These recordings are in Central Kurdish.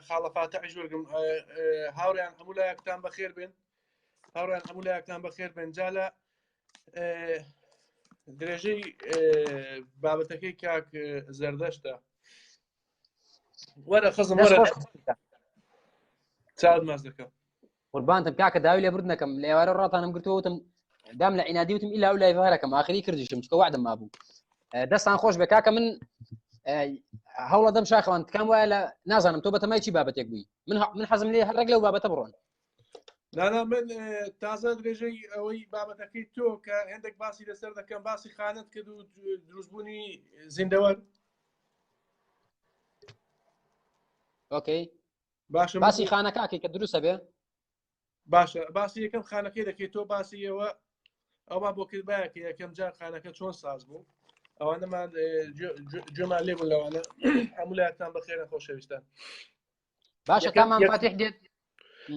خاڵە فاتحش وەرگم هاوریان هەموو لایەکتان بەخێر بێن هاوریان هەموو لایەکتان بەخێر بێن جالە درێژەی بابەتەکەی کاک زەردەشتە وەرە خزم وەرە چاود ماز دەکەم قوربانتم کاکە داوی لێ برد نەکەم لە ئێوارە ڕاتانم گرتووە وتم دام لە عینادی وتم ئیلا و لای هەرەکەم ئاخری کردیشم چکە وعدم مابوو دەستان خۆش بێ کاکە من هەوڵە دەم شاخوان تکام وایە لە نازانم تۆ بەتەمای چی بابەتێک بووی من من حەزم لێ هەرێک لەو بابەتە بڕۆن نانا من تازە درێژەی ئەوەی بابەتەکەی تۆ کە هەندێک باسی لەسەر دەکەم باسی خانت کرد و دروستبوونی زیندەوەر ئۆکەی باشە باسی خانەکەکەی کە دروستە بێ باشە باسی یەکەم خانەکەی دەکەیت تۆ باسی ئەوە ئەوە بۆ کردبایە کە یەکەم جار خانەکە چۆن ساز بوو ئەوانەمان جۆمان لێبوون لەوانە هەموو لایەتان بەخێرە خۆشەویستان باشە تامان فاتح دێت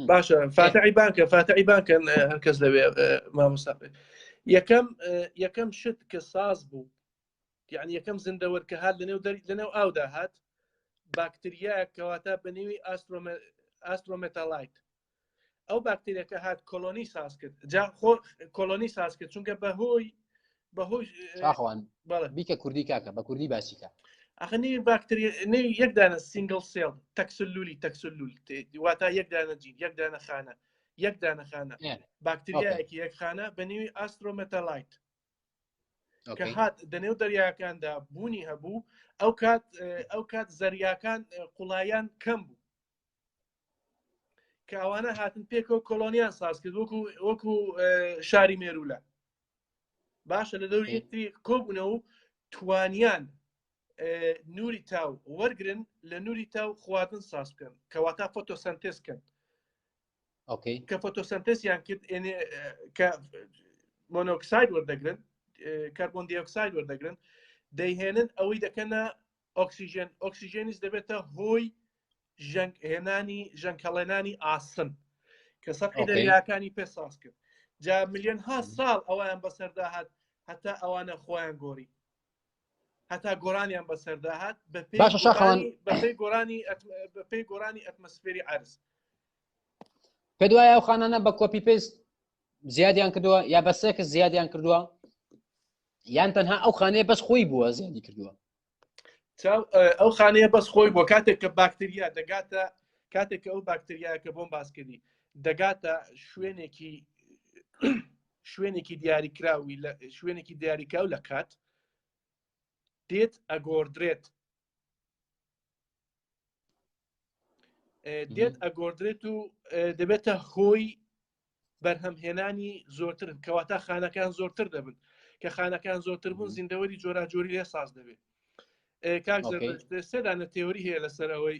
باشە فاتعی بانکە فاتعی بانکەن هەرکەس دەوێ مامۆستا یەکەم یەکەم شت کە ساز بوو یعنی یەکەم زندەوەر کە هات لەنێو دەری لەنێو ئاودا هات باکتریا کەواتە بەنێوی ئاسترۆمەتالایت ئەو باکتریەکە هات کۆلۆنی ساز کرد جا خۆ کۆلۆنی ساز کرد چونکە بەهۆی بەهۆی شاخوان بیکە کوردی کاکە بە کوردی باسیکە ئەخ نی باکتری نی یەک دانە سینگل سێڵ تەکسلولی تەکسلول واتا یەک دانە جین یەک دانە خانە یەک دانە خانە باکتریایەکی یەک خانە بە نێوی ئاسترۆمەتەلایت کە هات دەنێو دەریاکاندا بوونی هەبوو ئەو کات ئەو کات زەریاکان قوڵایان کەم بوو کە ئەوانە هاتن پێکەوە کۆلۆنیان ساز کرد وەکو وەکو شاری مێرولە باشە لە دەوری یەکتری کۆبوونە و توانیان نوری تاو وەرگن لە نوری تاو خواردن ساز بکەن کەواتە فۆتۆسنتێز بکەن کە فۆتۆسنتسیان کرد کە مۆنۆکساید وەردەگرن کاربۆن دیۆکساید وەردەگرن دەیهێنن ئەوەی دەکەنە ئۆکسسیژێن ئۆکسسیژێنیش دەبێتە هۆی ژەنگ هێنانی ژەنکەڵێنانی ئاسن کە سەقی دەریاکانی پێ ساز کرد جا ملیۆن ها ساڵ ئەویان بەسەردا هات هەتا ئەوانە خۆیان گۆری هەتا گۆرانیان بەسەردا هات باشە شاخوان بەپی گۆرانی بەپی گۆرانی ئەتمەسفێری عرز پێ دوایە ئەو خانانە بە کۆپی پێست زیادیان کردووە یا بە سێکس زیادیان کردووە یان تەنها ئەو خانەیە بەس خۆی بووە زیادی کردووە ئەو خانەیە بەس خۆی بۆ کاتێک کە باکتریا دەگاتە کاتێک ئەو باکتریایە کە بۆم باسکردی دەگاتە شوێنێکی شوێنێکی دیاریکراوی لە شوێنێکی دیاریکراو لە کات دێت ئەگۆردرێت دێت ئەگۆردرێت و دەبێتە هۆی بەرهەمهێنانی زۆرترن کەواتە خانەکان زۆرتر دەبن کە خانەکان زۆرتر بوون زیندەوەری جۆراجۆری لێ ساز دەبێت کاک سێدانە تێوری هەیە لەسەرەوەی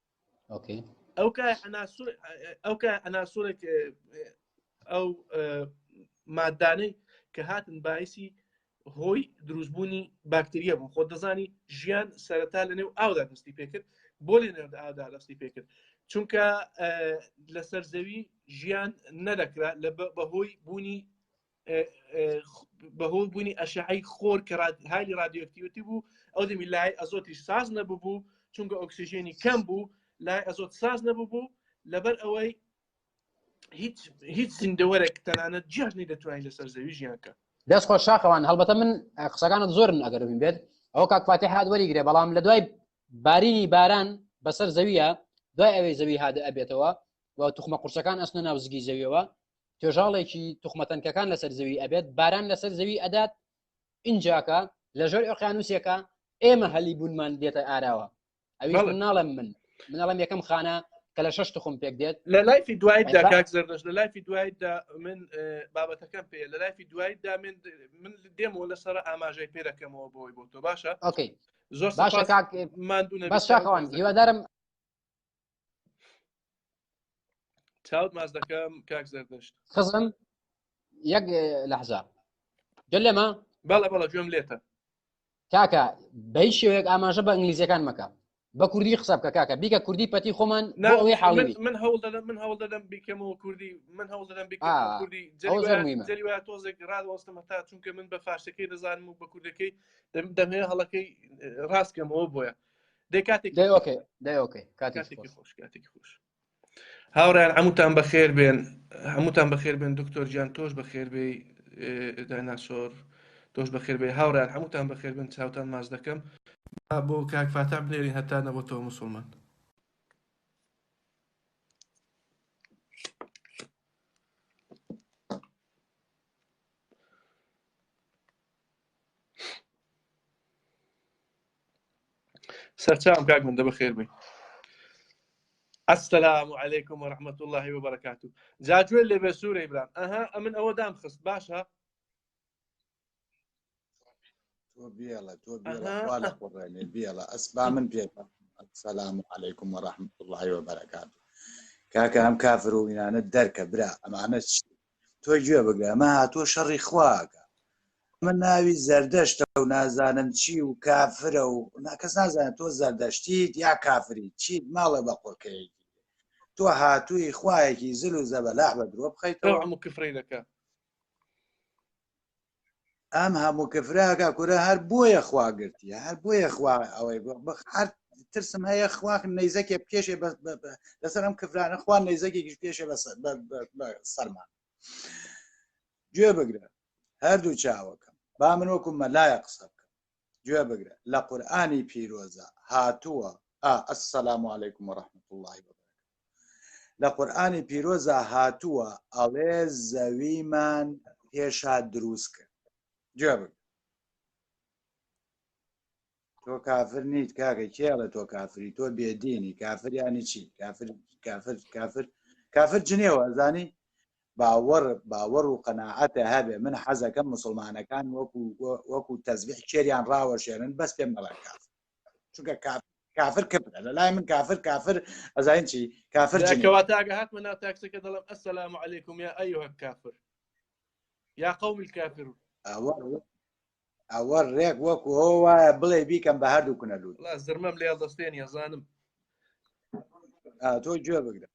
ئەو ئەو کە ئەناسۆرێک ئەو مادانەی کە هاتن باعسی هۆی دروستبوونی باکتریە بوو خۆ دەزانی ژیان سەرەتا لە نێو ئاودا دەستی پێکرد بۆ لێ نێو ئادا دەستی پێکرد چونکە لەسەر زەوی ژیان نەدەکرا لە بەهۆی بوونی بەهۆ بوونی ئەشعی خۆر کە هالی رادیۆکتیوتی بوو ئەو دەمی لای ئەزۆتیش ساز نەببوو چونکە ئۆکسسیژێنی کەم بوو لای ئەزۆت ساز نەببوو لەبەر ئەوەی هیچ هیچ زیندەوەرێک تەنانەت جیاژنی دەتوانین لەسەر زەوی ژیانکە دەست خۆش شاخەوان هەڵبەتە من قسەکانت زۆرن ئەگەر بین بێت ئەو کاکفاتی هاات وەریگرێ بەڵام لە دوای بارینی باران بەسەر زەویە دوای ئەوەی زەوی هااد ئەبێتەوە و توخمە قورسەکان ئەسنە ناوزگی زەویەوە توێژاڵێکی توخمەتەنکەکان لەسەر زەوی ئەبێت باران لەسەر زەوی ئەدات ئینجاکە لە ژێر ئۆقیانوسێکە ئێمە هەلی بوونمان دێتە ئاراوە ئەوی من ناڵم من منەڵم یەکەم خانە کە لە شش تخم پێک دێت لە لایفی دوایدا کاک زەردەش لە لایفی دوایدا من بابەتەکەم پێ لە لایفی دوایدا من من دێمەوە لەسەر ئاماژەی پێرەکەمەوە بۆی بۆ تۆ باشە ئۆکەی زۆر باشە کاک مادونە بەشاکەوان هیوادارم چاوت ماس دەکەم کاک زەردەشت خزم یەک لەحزا گەل لەمە بەڵە بەڵە گوێم لێتە کاکە بەی شێوەیەک ئاماژە بە ئینگلیزیەکان مەکە بە کوردی قسە بکە کاکە بیکە کوردی پەتی خۆمان ئەوەی حاڵی من هەوڵ دەدەم من هەوڵ دەدەم بیکەمەوە کوردی من هەوڵ دەدەم بیکەمەوە کوردی جەریوا تۆزێک ڕادوەستمە تا چونکە من بە فارسەکەی دەزانم و بە کوردەکەی دەمێ هەڵەکەی ڕاستکەمەوە بۆیە دەی کاتێک دەی ئۆکەی دەی ئۆکەی کاتێکی کاتێکی خۆش خۆش کاتێکی خۆش هاوڕیان هەمووتان بەخێر بێن هەمووتان بەخێر بێن دکتۆر گیان تۆش بەخێر بێ دایناسۆر تۆش بەخێر بێ هاوڕیان هەمووتان بەخێر بن چاوتان ماز دەکەم با بۆ کاک فاتان بنێری هەتا نەبەتەوە مسلمان سەرچاوم کاک من دەبە خێر بی السلام علیکم و رحمت الله و بەرکات و جاجوێ لێ بێ سوورە ئیبرام ئەها ئەمن ئەوە دام خست باشە بێڵە تۆ بێڵە قڕێنێ بێڵە ئەسبا من پێ سەسلام و عیکم و رحمت الله و بەرکات کاکە ئەم کافرۆینانە دەرکە برا ئەمانە تۆ گوێ بگرە ئەمە هاتووە شەڕی خواکە من ناوی زەردەشتە و نازانم چی و کافرە و ناکەس نازانێت تۆ زەردەشتیت یا کافری چیت ماڵە بە قۆکەیەکی تۆ هاتووی خوایەکی زل و زەبەلاح بە درۆ بخەیتەوە کفرینەکە ئەم هەموو کەفراکە کورە هەر بۆیە خوا گرتی هەر بۆیە خوا ئەوەی هەر ترسم هەیە خواخ نەیزەکێ پێشێ لەسەر ئەم کەفرانە خوا نەیزەکێکیش پێشێ بە سەرمان گوێ بگرە هەردوو چاوەکەم با من وەکو مەلایە قسە بکەم گوێ بگرە لە قورئانی پیرۆزە هاتووە ئا السلام علیکم و رحمت الله لە قورئانی پیرۆزە هاتووە ئەڵێ زەویمان پێشا دروست کرد گوێ بگرە تۆ کافر نیت کاکە کێڵە تۆ کافری تۆ بێدینی کافریانی چی کافر کافر کافر کافر جنێوە زانی باوەڕ باوەڕ و قەناعەتە هەبێ من حەزەکەم مسلمانەکان وەکو وەکو تەزبیح کێریان ڕاوەشێنن بەس پێم نەڵێن کافر چونکە کافر کافر کفرە لە لای من کافر کافر ئەزانین چی کافر جنێو. کەواتاگە هاتمە ناو تاکسەکە دەڵم ئەسلام و علیکم یا ئەیوه کافر یا قوم الكافر ئەوە ئەوە ڕێک وەکو ئەو وایە بڵێ بیکەم بە هەردوو کونە لوت لا زرمەم لێ دەستێن یەزانم تۆ گوێ بگرە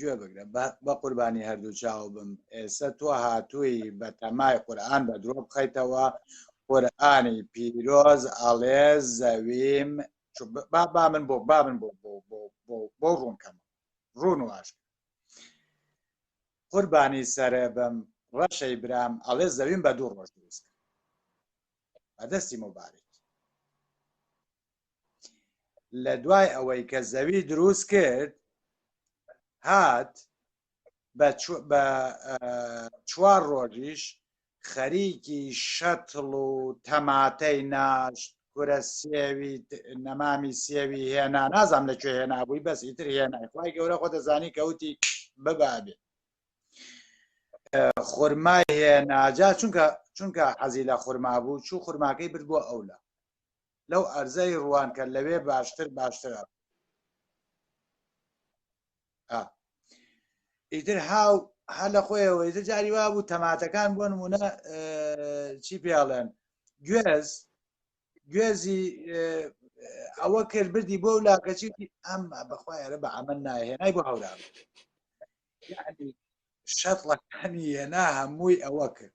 گوێ بگرە بە قوربانی هەردوو چاو بم ئێستا تۆ هاتووی بە تەمای قورآن بە درۆ بخەیتەوە قورآانی پیرۆز ئاڵێ زەویم با با من بۆ با من بۆ بۆ بۆ بۆ بۆ ڕوونکەم ڕوون واش قوربانی سەرە بم ڕەشەی برام ئەڵێ زەویم بە دوو ڕۆژ دروست بەدەستی مبارێت لە دوای ئەوەی کە زەوی دروست کرد هات بە چوار ڕۆژیش خەریکی شەتڵ و تەماتەی ناشت کورە سێوی نەمامی سێوی هێنا نازام لە کوێ هێنابووی بەس ئیتر هێنای خی گەورە خۆ دەزانی کەوتی ببابێ خورمای هێناجا چونکە چونکە حەزی لە خورما بوو چوو خورماکەی برد بۆ ئەولا لەو ئەرزەی ڕوان کە لەوێ باشتر باشترە ئیتر هاو هە لە خۆیەوە ئیتر جاری وا بوو تەماتەکان بۆ نمونە چی پێڵێن گوێز گوێزی ئەوە کرد بردی بۆ لاکەچی ئەم بەخوایەرە بە ئەمە ناهێنای بۆ هەورا شەتڵەکانی هێنا هەمووی ئەوە کرد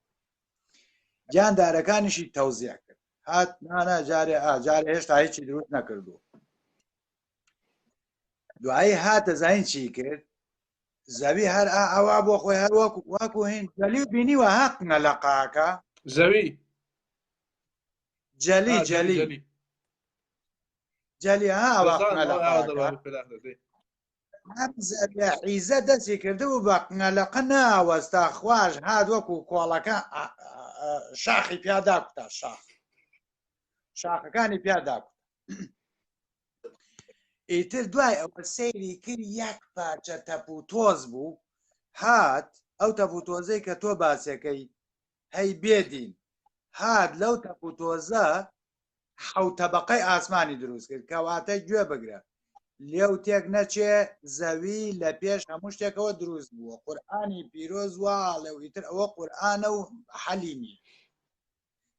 گیاندارەکانیشی تەوزیع کرد هات نانا جارێ ئاجار هێشتا هیچی دروست نەکردو دوایی هاتە زین چی کرد زەوی هەر ئاوا بۆ خۆی هەر وەکو واکو هین جەلی بینی وە هاتنە لە قاکە زەوی جەلی جەلی جەلی ها ئاوا هەمزە لە عیزە دەستی کردبوو بە قنەلەقە ناوەستا خواش هات وەکو کۆڵەکە شاخی پیادا کوتا شاخ شاخەکانی پیادا کوتا ئیتر دوای ئەوە سەیری کرد یەک پارچە تەپ و تۆز بوو هات ئەو تەپ و تۆزەی کە تۆ باسەکەی هەی بێ دین هات لەو تەپ و تۆزە حەوت تەبەقەی ئاسمانی دروست کرد کەواتە گوێ بگرە لێو تێک نەچێ زەوی لە پێش هەموو شتێکەوە دروست بووە قورآانی پیرۆز وا لەو ئیتر ئەوە قورآانە و حەلی نیە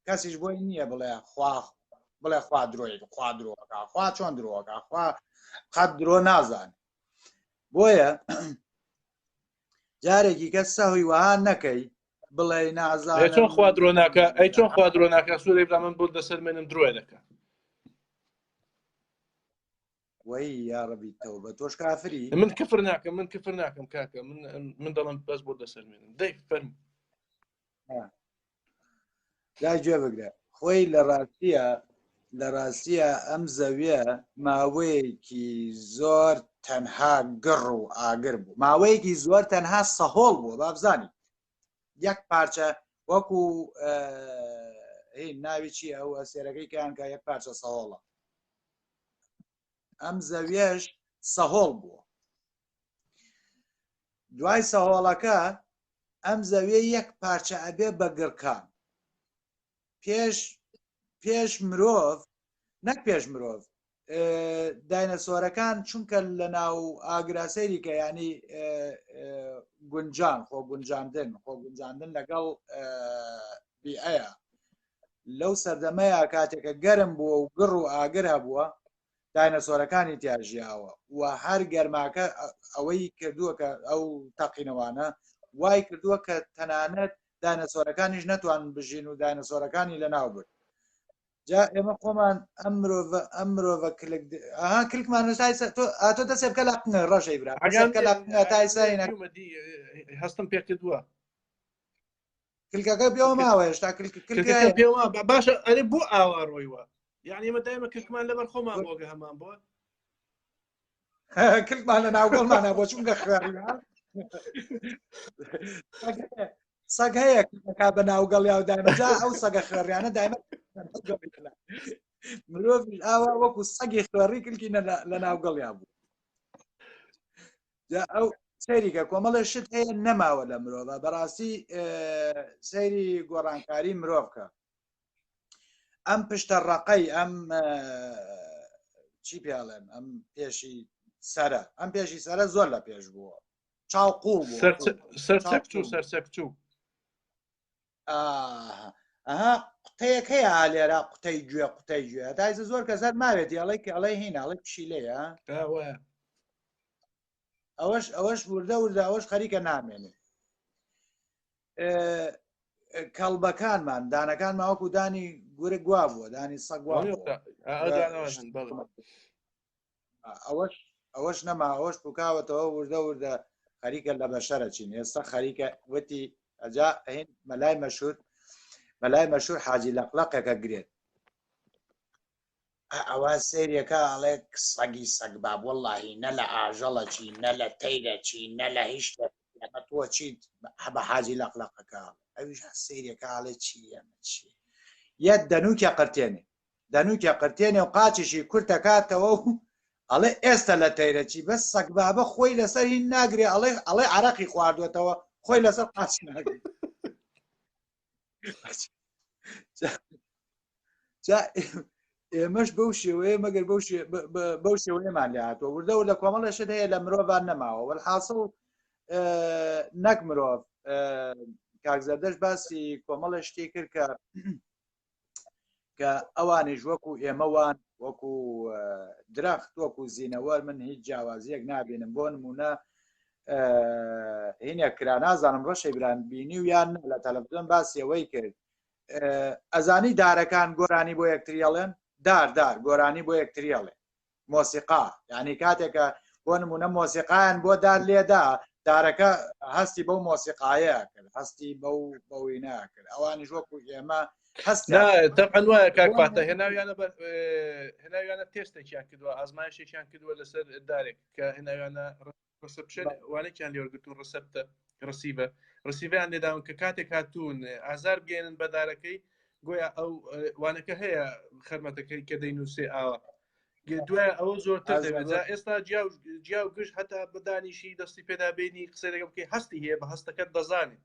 کەسیش بۆی نییە بڵێ خوا بڵێ خوا درۆی خوا درۆکە خوا چۆن درۆکە خوا قەت درۆ نازانێت بۆیە جارێکی کە سەهوی وەها نەکەی بڵێ نازا چۆن خوا درۆناکە ئەی چۆن خوا درۆناکە سوورێ بە من بۆ دەسەر منم درۆێ دەکە وی یاڕبی تەوە بە تۆش کافری من کفر ناکەم من کفر ناکەم کاکە من من دەڵم بەس بۆ دەسەر منم دەی فەرم لا گوێ بگرە خۆی لە ڕاستیە لە ڕاستیە ئەم زەویە ماوەیەکی زۆر تەنها گڕ و ئاگر بوو ماوەیەکی زۆر تەنها سەهۆڵ بووە بابزانانی یەک پارچە وەکو ناوی چی ئەوە سێرەکەی کەیانکە یەک پارچە سەهۆڵە ئەم زەویەش سەهۆڵ بووە دوای سەهۆڵەکە ئەم زەویە یەک پارچە ئەبێ بە گڕکان پێش پێش مرۆڤ نەک پێش مرۆڤ داینەسۆرەکان چونکە لە ناو ئاگراسەریکە ینی گونجان خۆ گونجاندن خۆ گونجاندن لەگەڵ بیئەیە لەو سەردەمەیە کاتێکە گەرم بووە و گڕ و ئاگر هەبووە داینەسۆرەکانی تیاژیاوە و هەر گەرماکە ئەوەی کردووە کە ئەو تەقینەوانە وای کردووە کە تەنانەت داینەسۆرەکانیش نەتوان بژین و داینەسۆرەکانی لە ناو برد جا ئێمە خۆمان ئەم مرۆڤ ئەم مرۆڤە کلک ئەها کلکمان نوسای سە- تۆ ئا تۆ دەسێ بکە لە قنە ڕەشەی برا دەسێ بکە لە قنە تای سەرینە هەستم پێکردووە کلکەکە پێوە ماوە هێشتا باشە ئەرێ بۆ ئاوا ڕۆیوە یعنی ئمە دایمە کشمان لەبەر خۆمان بۆگە هەمان بۆ کلکمان لە ناوگەڵمانە بۆ چونگە خوێڕ سەگ هەیە کا بە ناوگەڵ یا و دایمەجا ئەو سەگە خوێڕیانە دایمە مرۆڤ ئاوا وەکو سەگی خوێڕی کلکی لە ناوگەڵیان بوو ئەو سەیریکە کۆمەڵێ شت هەیە نەماوە لە مرۆڤە بەڕاستی سەیری گۆڕانکاری مرۆڤکە ئەم پشتە ڕقەی ئەم چی پێڵێن ئەم پێشی سرە ئەم پێشی سرە زۆر لە پێش بووە چاوقوڵ سەرچەکچوو سەرچەکچوو ئەها قوتەیەک هەیە لێرا قوتەی گوێ قوتەی گوێ دایزە زۆر کە زەر ماوێت یاڵی کە ئەڵێ هی ناڵی پشیلەیە ئەوەش ئەوەش وردە وردە ئەوەش خەریکە نامێنێ کەڵبەکانمان دانەکان ماوەکو دانی گورە گوا بووە دانی سەگوا ئەوەش ئەوەش نەما ئەوەش پکاوەتەوە وردە وردە خەریکە لە بەشەرە چین ئێستا خەریکە وتی ئەجا هین مەلای مەشهور مەلای مەشهور حاجی لەقلەقەکە گرێت ئەوە سریەکە ئەڵێ سەگی سەگ باب وەڵی نە لە ئاژەڵە چی نە لە تەیرە چی نە لە هیچ لەمە تۆ چیت هەبە حاجی لەقلەقەکە ئەویش سریەکە ئاڵێ چی ئەمە چی یە دەنوکە قرتێنێ دەنووکێ قرتێنێ و قاچیشی کورت ئەکاتەوە و ئەڵێ ئێستە لە تەیرە چی بەس سەگبابە خۆی لەسەر هین ناگرێ ئەڵێ ئەڵێ عەرەقی خواردوێتەوە خۆی لەسەر قاچ ناگرێ ئێمەش بەو شێوەیە مەگەر بەو بەو شێوەیەمان لە هاتووە وردە و لە کۆمەڵەشت هەیە لە مرۆڤان نەماوە وەحاصل نەک مرۆڤ کاکزەردەش باسی کۆمەڵە شتێک کرد کە کە ئەوانیش وەکو ئێمەوان وەکو درەخت وەکو زیینەوە من هیچ جیاوازیەک نابینم بۆ نمونە هینە کرا نازانم ڕەشی بران بینی و یان لە تەلەڤزیۆن باسیەوەی کرد ئەزانی دارەکان گۆرانی بۆ یەکتریاڵێن داردار گۆرانی بۆ یەکتریاڵێ مۆسیقا یعنی کاتێکە بۆ نمونە مۆسیقایان بۆ دار لێدا دارەکە هەستی بەو مۆسیقاایە کرد هەستی بەو بەوی ناکرد ئەوانیش وەکو ئێمە دەقەن وایە کاکپاتە هێناویانە هێناویانە تێستێکیان کردووە ئازمایشێکیان کردووە لەسەر دارێک کە هێناویانە ڕسپشن وانێکیان لێوەرگتون ڕسەپتە ڕسیبە ڕسیڤیان لێداون کە کاتێک هاتوون ئازار بگەێنن بەدارەکەی گویا ئەو وانەکە هەیە خەرمەتەکەی کە دەینووسێ ئاوە دوای ئەوە زۆرتر دەبێت ئێستا جیاو گشت هەتا بدانیشی دەستی پێدا بینی قسە لەگە بکەی هەستی هەیە بە هەستەکەت دەزانێت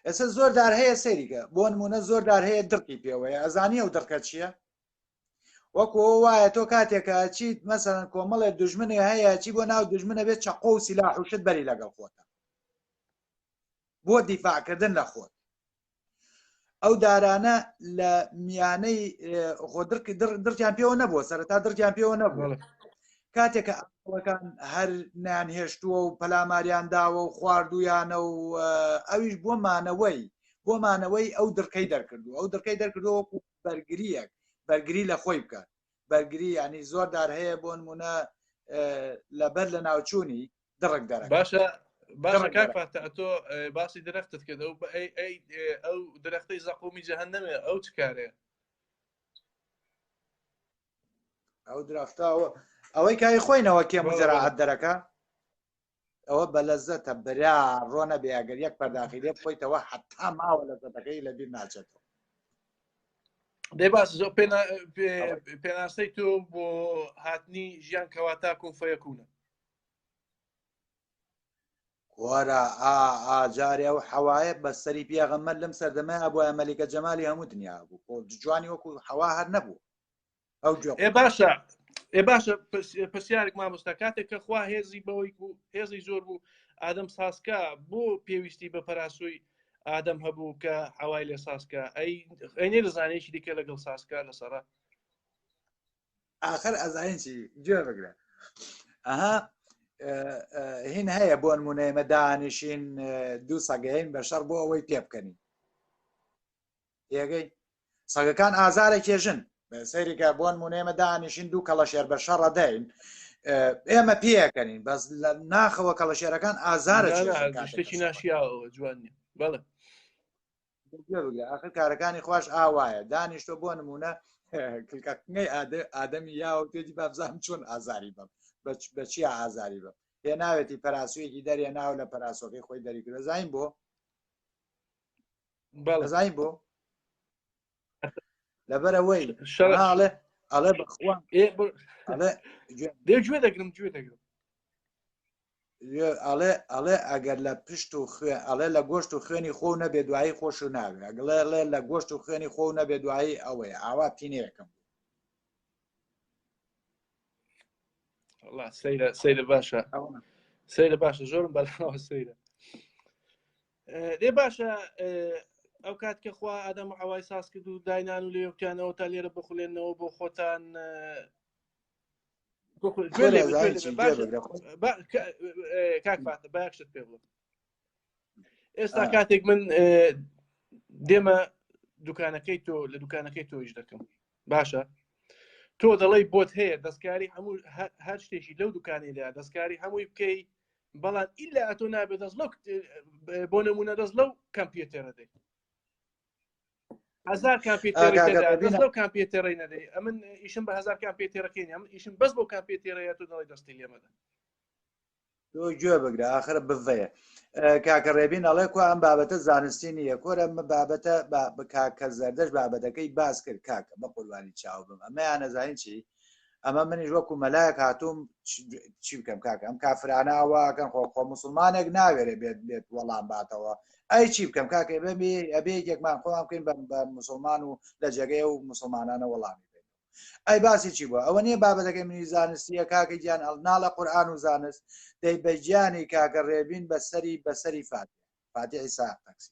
ئێستا زۆر دار هەیە سەریگە بۆ نمونە زۆر دار هەیە دڕقی پێوەیە ئەزانی ئەو دڕکە چییە وەکو وایە تۆ کاتێکە چیت مەسەن کۆمەڵێ دژمنێ هەیە چی بۆ ناو دژمنە بێت چەقۆ و سیلا حوشت بەری لەگەڵ خۆتە بۆ دیفاعکردن لە خۆت ئەو دارانە لە میانەی خۆدرکی دڕکیان پێوە نەبووە سەرتا دڕکیان پێوە نەبووە کاتێکە ئەڵەکان هەر نیان هێشتووە و پەلاماریان داوە و خواردویانە و ئەویش بۆ مانەوەی بۆ مانەوەی ئەو دڕکەی دەرکردو ئەو دڕکەی دەرکردەوە بەرگریەک بەرگری لە خۆی بکات بەرگری ینی زۆر دار هەیە بۆ نمونە لەبەر لە ناوچوونی دڕک دەرە باشە تۆ باسی درەختت کرد ئەو ئەو درەختی زەقومی جەهن نەمێ ئەو چ کارێ ئەو درەختەوە ئەوەی کای خۆینەوە کێ مزراعات دەرەکە ئەوە بە لەزەتە برا ڕۆنە بێ ئەگەر یەک پەرداخی لێ بخۆیتەوە حتا ماوە لە زەتەکەی لە بیر ناچێتەوە دەی باس زۆ پێناسەی تۆ بۆ هاتنی ژیان کەواتا کۆن فەیەکوونە وەرە ئاجارێ و حەوایە بە سەری پیاغەمەر لەم سەردەمە ئەبووە مەلیکە جەمالی هەموو دنیا بوو جوانی وەکو حەوا هەر نەبوو ئەو گوێ ئێ باشە ئێ باشە پرس- پرسیارێک مامۆستا کاتێک کە خوا هێزی بەوەی بوو هێزی زۆر بوو ئادەم ساسکە بۆ پێویستی بە پەراسوی ئادەم هەبوو کە هەوای لێ ساسکە ئەی ئەی نێدەزانێکی دیکە لەگەڵ ساسکە لەسەرە ئاخر ئەزانین چی گوێ بگرە ئەها هین هەیە بۆ نمونە ئێمە دانیشین دوو سەگەین بە شەڕ بۆ ئەوەی پێ بکەنین پێگەی سەگەکان ئازارە کێژن سەیرێکە بۆن مونێمە دانیشین دوو کەڵەشێر بە شەڕەدەین ئێمە پێەکەنین بەس لە ناخەوە کەڵەشێرەکان ئازارە شتێکی ناشیاوە جوان بەڵێ ئاخر کارەکانی خوش ئاوایە دانیشتۆ بۆ نمونە کلکەکەی ئادەمی یا و پێجی بابزان چۆن ئازاری بم بە چی ئازاری بم پێ ناوێتی پەراسویەکی دەرێ ناو لە پەراسۆکەی خۆی دەریکرۆزین بۆ بەڵزای بۆ لەبەرەوەی شڵێ ئەڵێ بخوا دەگوێ دەگرم گوێ دەگرم ئەڵێ ئەڵێ ئەگەر لە پشت و خوێ ئەڵێ لە گۆشت و خوێنی خۆ نەبێ دوایی خۆش و ناوێ ئەگڵێ ڵێ لە گۆشت و خوێنی خۆ نەبێ دوایی ئەوەی ئاوا تینەکەم سەیرە سەیرە باشە سەیرە باشە زۆرم بەلاوە سەیرە دێ باشە ئەو کات کە خوا ئادەم و ئەوای ساز کرد و داینان و لێوتیانەوە تا لێرە بخولێنەوە بۆ خۆتان کاکفاتە باشت پێ بڵم ئێستا کاتێک من دێمە دوکانەکەی تۆ لە دوکانەکەی تۆیش دەکەم باشە تۆ دەڵی بۆت هەیە دەستکاری هەموو هەر شتێکی لەو دوکانێدا دەستکاری هەمووی بکەی بەڵام ئیلا ئەتۆ نابێت دەست لەو بۆ نمونە دەست لەو کەمپیوتێرە دەی هزار کامپیوتەرەو کامپیوتەرەی نەدەی ئەمن ئیشم بە هزار کامپیوتەرەکەی ئەم ئیشم بەس بۆ کامپیوتەرەیە تو دەڵی دەستی لێمەدە تۆ گوێ بگرە آخر بڤەیە کاکە ڕێبین ئەڵێ کو ئەم بابەتە زانستی نییە کۆرە بابەتە کاکە زەردەش بابەتەکەی باس کرد کاکە بە قوربانی چاو بم ئەمەیان نەزانین چی ئەمە منیش وەکو مەلایەک هاتووم چی بکەم کاکە ئەم کافرانە ئەوەکەن خۆ خۆ مسلمانێک ناوێرێ بێت بێت وەڵام باتەوە ئەی چی بکەم کاکە بێ ئەبێ یەکمان خۆمان بکەین بە مسلمان و لە جێگەی و مسلمانانە وەڵامی بێت ئەی باسی چی بووە ئەوە نییە بابەتەکەی منی زانستیە کاکە گیان ئەڵ ناڵە قورآان و زانست دەی بەجیانی کاکە ڕێبین بەسەری بەسەری فات فاتیحی ساقسی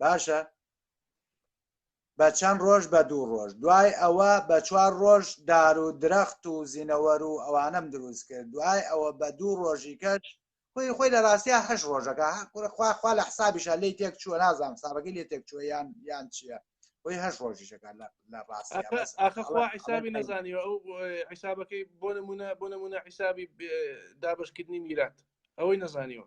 باشە بە چەند ڕۆژ بە دوو ڕۆژ دوای ئەوە بە چوار ڕۆژ دار و درەخت و زینەوەر و ئەوانم دروست کرد دوای ئەوە بە دوو ڕۆژی کەش خۆی خۆی لە ڕاستە هەش ڕۆژەکە خواخوا لە حسابیشە لی تێک چووە نازانام ساڕگەی لێ تێک چووە یان یان چییە خۆی هەش ڕۆژیشەکە لە ڕاستیسابی نەزانیوە ئەو حیسابەکەی بۆ نمونە بۆ نمونە حیسابی دابشکردنی میرات ئەوەی نەزانیوە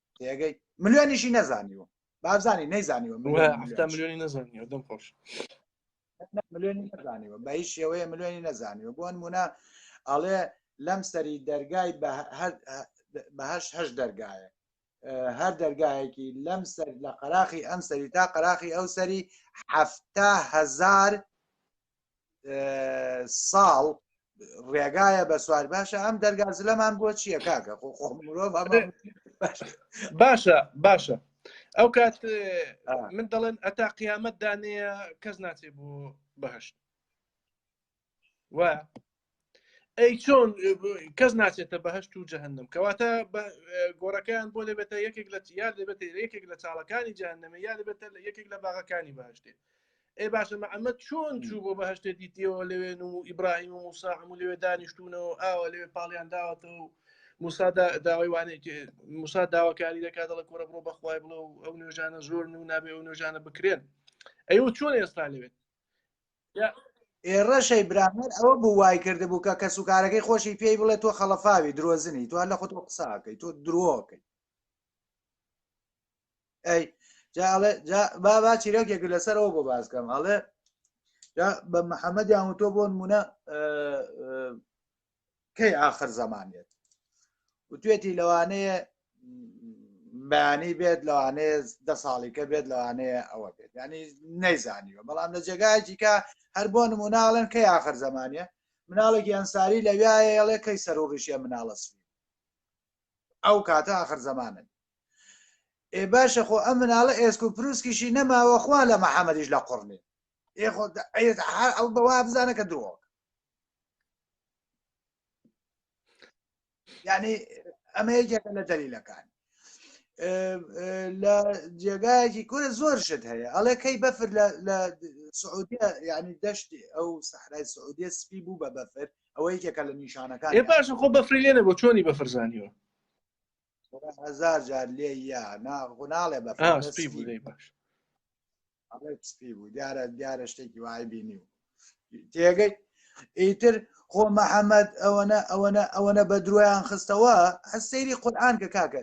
تێگەی ملیۆنیشی نەزانیوە بابزانانی نەیزانیوە ملیۆنی نەزانیوە دەم خۆش ملیۆنی نەزانیوە بە هیچ شێوەیە ملیۆنی نەزانیوە بۆن مونە ئەڵێ لەم سەری دەرگای بەهش هەش دەرگایە هەر دەرگایەکی لەم سەر لە قەراخی ئەم سەری تا قەراخی ئەو سەری هەهزار ساڵ ڕێگایە بە سوار باشە ئەم دەرگا زلەمان بۆ چییە کاکە خۆ خۆ مرۆڤ ئەمە باشە باشە ئەو کات من دەڵێن ئەتا قیامەت دانەیە کەس ناچێ بۆ بەهشت وە ئەی چۆن کەس ناچێتە بەهشت و جەهنم کەواتە گۆڕەکەیان بۆ دەبێتە یەکێک لە یار دەبێت یەکێک لە چاڵەکانی جانەمە یا دەبێتە لە یەکێک لە باغەکانی باشتێ ئەی باشە ئەمە چۆن چوو بۆ بەهشتێ دیتیەوە لەوێن و ئیبراهیم و موساحم و لەوێ دانیشتونەوە ئاوە لەوێ پاڵیان داوەتەوە و موسادا داوای وانێک موسا داواکاری دەکات دەڵە کۆرە بڕۆ بەخوای بڵە و ئەو نوێژانە زۆر و نابێ ئەو نوێژانە بکرێن ئەو چۆن ئێستا لەوێت ئێڕەشەی برامەر ئەوە بوو وای کرد بوو کە کەس و کارەکەی خۆشی پێی بڵێ تۆ خەڵەفاوی درۆزنی تو هەر لە خۆت قساکەی تۆ درۆکەی ئەی بابا چیرەکێک لەسەرەوە بۆ باسکەم ئەڵێ بە محەممەدیان و تۆ بۆن مونە کەی ئاخر زەمانێت وتێتی لەوانەیە بەیانی بێت لەوانەیە دە ساڵیکە بێت لەوانەیە ئەوە بێت ینی نەیزانیوە بەڵام لە جێگایکە هەر بۆ نموناڵن کەی ئاخر زەمانە مناڵێکی ئەنساری لەویایەڵێ کەی سەر و ڕیشە مناڵە سوی ئەو کاتە ئاخر زەمانن ئێ باشە خۆ ئەم مناڵە ئێسک و پرووسکیشی نەماوە خوا لە محەممەدیش لە قڕنێ ئەو بەوا بزانە کە درۆک یعنی ئەمە یەکێکە لە دەلیلەکان لە جێگایەکی کورە زۆر شت هەیە ئەڵێ کەی بەفر لە سعودیە ینی دەشتی ئەو سەحرای سعودیە سپی بوو بە بەفر ئەوە یەکێکە لە نیشانەکان ێ باش خۆ بەفری لێنە بۆ چۆنی بەفرزانیوە هزار جار لێ یا ناغناڵێ بە سپی بوو باش سپی بوو دیارە دیارە شتێکی وای بینی و تێگەی ئیتر خۆ محەممەد ئەوەنە ئەوەنە ئەوەنە بە درۆیان خستەوە هەر سەیری قورآان کە کاکە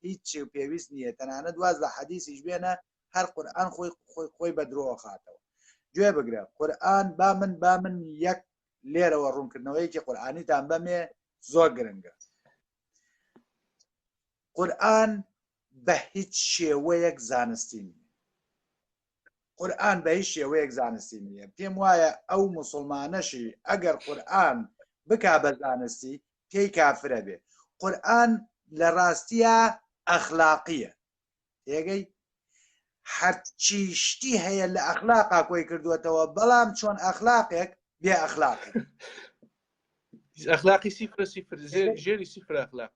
هیچ و پێویست نییە تەنانە دواز لە حەدیسیش بێنە هەر قورآان خۆی خۆی خۆی بە درۆ خاتەوە گوێ بگرە قورآن با من با من یەک لێرەوە ڕوونکردنەوەیەکی قورآانیتان بەمێ زۆر گرنگە قورئان بە هیچ شێوەیەک زانستی نیە قورئان بە هیچ شێوەیەک زانستی نیە پێم وایە ئەو موسڵمانەشی ئەگەر قورئان بکا بە زانستی پێی کافرە بێ قورئان لە ڕاستیە ئەخلاقیە تێگەی هەرچی شتی هەیە لە ئەخلاقا کۆی کردوێتەوە بەڵام چۆن ئەخلاقێک بێ ئەخلاق ئەخلاقی سیفر سیفر ژێری سیفر ئەخلاق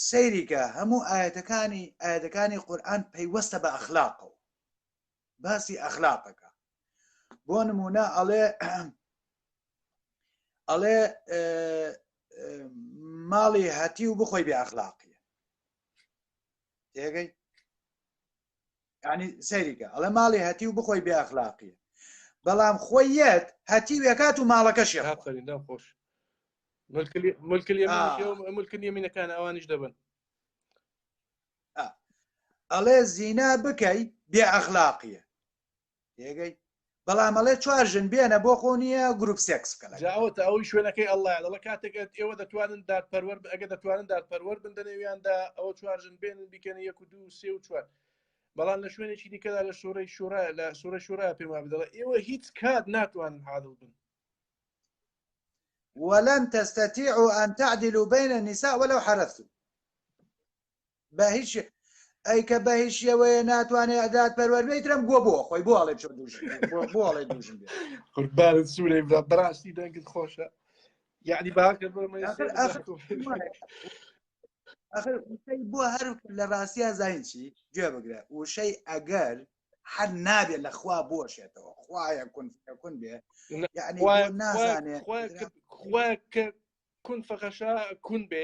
سەیریکە هەموو ئایەتەکانی ئایەتەکانی قورآن پەیوەستە بە ئەخلاقەوە باسی ئەخلاقەکە بۆ نمونە ئەڵێ ئەڵێ ماڵی هەتی و بخۆی بێ ئەخلاقیە تێگەی ینی سەیریکە ئەڵە ماڵی هەتی و بخۆی بێ ئەخلاقیە بەڵام خۆی یەت هەتی وێکات و ماڵەکەشی خۆش ملکلی منەکان ئەوانیش دەبن ئەڵێ زینا بکەی بێ ئەخلاقیە تێگەی بەڵام ئەڵێ چوار ژن بێنە بۆ خۆ نییە گروپ سێکس بکەن جاوە تا ئەوی شوێنەکەی ئەڵە دەڵە کاتێکت ئێوە دەتوانن دادپەروەر ئەگە دەتوانن دادپەروەر بن دەنێویاندا ئەوە چوار ژن بێنن بیکەن یەک و دوو سێ و چوار بەڵام لە شوێنێکی دیکەدا لە شوڕی شوڕە لە سوورە شوورا پێما بدەڵە ئێوە هیچ کات ناتوانن حاڵ بن ولن تستطيعوا أن تعدلوا بين النساء ولو حرثتم بە هیچ ئەی کە بە هیچ شێوەیە ناتوانێ ئەدات پەروەربێت ترم گووە بۆ خۆی بۆ ئەڵێ چۆن دوژ بۆ ئەڵێ دوژم قوربانت سوورەی برا بەڕاستی دەنگت خۆشە یعنی باکە بۆ هەر لە ڕاستیا زین چی گوێ بگرە وشەی ئەگەر هەر نابێ لە خوا بۆشێتەوە خوایە کون کون بێ نازانێ کون فەخەشە کون بێ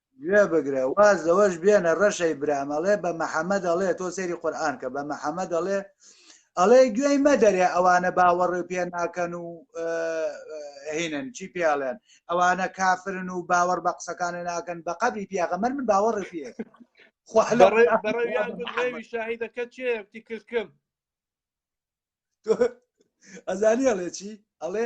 گوێ بگرە واز لەوەش بێنە ڕەشەی برام ئەڵێ بە محەممەد ئەڵێ تۆ سەیری قورآن کە بە محەممەد ئەڵێ ئەڵێ گوێی مەدەرێ ئەوانە باوەڕێ پێ ناکەن و هینن چی پێڵێن ئەوانە کافرن و باوەڕ بە قسەکانە ناکەن بە قەبی پیاغەمەر من باوەڕێ پێ بەڕێوی شاهیدەکە چێتی کردکم ئەزانی ئەڵێ چی ئەڵێ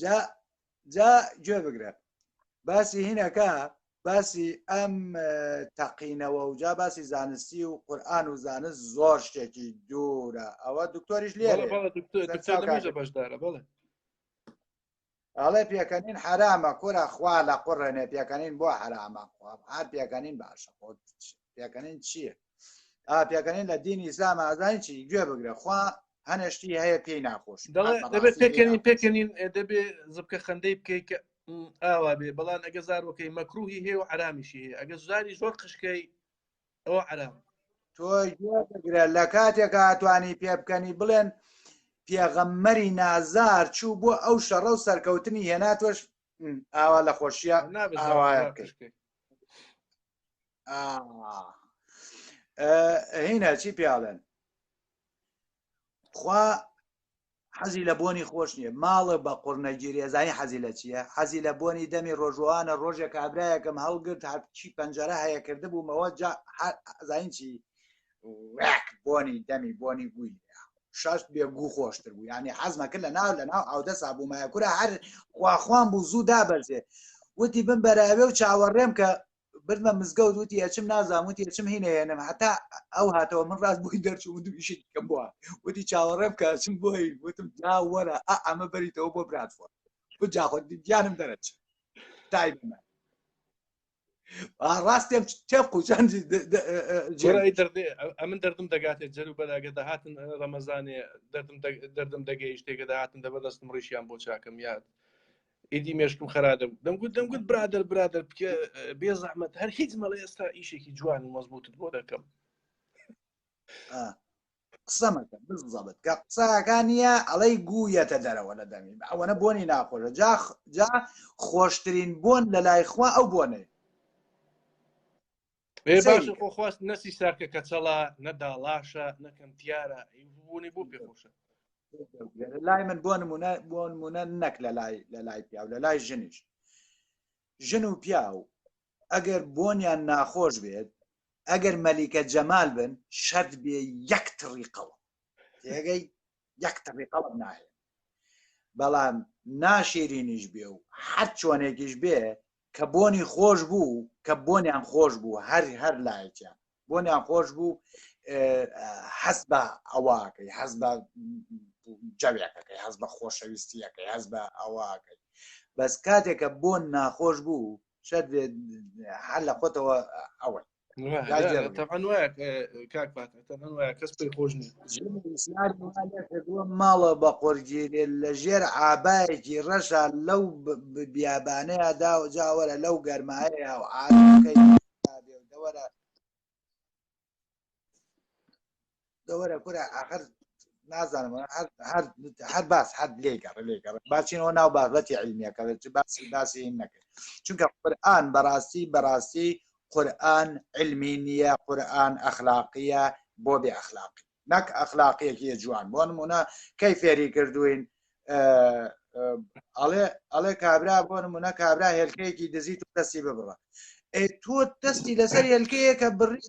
جا جا گوێ بگرە باسی هینەکە باسی ئەم تەقینەوە و جا باسی زانستی و قورآن و زانست زۆر شتێکی دوورە ئەوە دکتۆریش لێ بەشدارە بڵێ ئەڵێ پێکەنین حرامە کورە خوا لە قڕێنێ پێکەنین بۆ حرامە هەر پێکەنین باشە پێکەنین چییە پێکەنین لە دینی ئیسلام ئازانی چی گوێ بگرە خوا هەنێشتی هەیە پێی ناخۆش دەبێت پێکەنین پێکەنین دەبێ زبکە خەندەی بکەیت کە ئاوا بێ بەڵام ئەگە زارۆکەی مەکروهی هەیە و عرامیشی هەیە ئەگە زاری زۆر قشکەی ئەوە عرام تۆگرە لە کاتێکا توانی پێ بکەنی بڵێن پێغەممەری نازار چوو بۆ ئەو شەڕە و سەرکەوتنی هێناتۆش ئاوا لە خۆشیە ئاوا هینا چی پیاڵێن خوا حەزی لە بۆنی خۆش نییە ماڵە بە قڕنەگیری ئەزانی حەزی لە چییە حەزی لە بۆنی دەمی ڕۆژوانە ڕۆژێک کابراایەکەم هەڵگرت هەرچی پەنجەرە هەیە کرد بوومەوە زین چی ڕێک بۆنی دەمی بۆنی گوی شەست بێ گو خۆشتر بوو ینی حەزمە کرد لە ناو لە ناو ئاودە سابوومایە کورە هەر خواخوان بوو زوو دابەرزێ وتی بم بەراوێ و چاوەڕێم کە بردمە مزگەوت وتی ئەچم نازام وتی ئەچم هینەیەنم هەتا ئەو هاتەوە من ڕاست بووی دەرچوو دوو ئیشی کەم بووە وتی چاوەڕێم کە چم بۆی وتم جا وەرە ئەمە بەریتەوە بۆ براتفۆر جاخۆ دیانم دەرەچ تایبمە ڕاستێم تێ قوچان ئەمن دەردم دەگاتێ جەرو بەراگە دەهاتن ڕەمەزانێ دەردم دەگەیش تێگە دەهاتن دەبە دەستم ڕیشیان بۆ چاکەم یاد ئیدی مێشکم خراپ دەمگوت دەمگوت برادر برادر بکە بێ زەحمت هەر هیچ مەڵێ ئێستا ئیشێکی جوان و مەزبوتت بۆ دەکەم قسە مەکە بزەبت کە قسەکان نیە ئەڵەی گوویەتە دەرەوە لە دەمی ئەوەنە بۆنی ناخۆشە جا جا خۆشترین بۆن لە لای خوا ئەو بۆنەیە بێ قسەی باشە بکە. خۆ خواست نەسی ساکە کەچەڵە نەداڵاشە نەکەم تیارە بوونی بۆ پێخۆشە لە لای من بۆ نمونە بۆ نمونە نەک لە لای لە لای پیاو لە لای ژنیش ژن و پیاو ئەگەر بۆنیان ناخۆش بێت ئەگەر مەلیکە جەمال بن شەرت بێ یەک تڕی قەڵم تێگەی یەک تڕی قەڵم ناهێ بەڵام ناشیرینیش بێ و هەر چۆنێکیش بێ کە بۆنی خۆش بوو کە بۆنیان خۆش بوو هەر هەر لایەکیان بۆنیان خۆش بوو حەز بە ئەوواکەی حەز بە جەوێکەکەی حەز بە خۆشەویستیەکەی حەز بە ئەوواکەی بەس کاتێکە بۆن ناخۆش بوو شەر بێت هەر لە خۆتەوە ئەوە ماڵە بە قۆرگیرێ لە ژێر ئابایەکی ڕەشە لەو بیابانەیە دا و جاوەرە لەو گەرمایە و ئاکەی دەوەرە دەوەرە کورە ئاخر نازانم هەر باس هەر لێگەڕ لێگەڕ باچینەوە ناو بابەتی علمیەکە چ باسی باسی نەکرد چونکە قورآن بەڕاستی بەڕاستی قورآن علمی نییە قورآن ئەخلاقیە بۆ بێ ئەخلاقی نەک ئەخلاقیەکی جوان بۆ نمونە کەی فێری کردوین ئەڵێ ئەڵێ کابرا بۆ نمونە کابرا هێلکەیەکی دزیت و دەستی ببڕە ئەی تۆ دەستی لەسەر هێلکەیە کە بڕی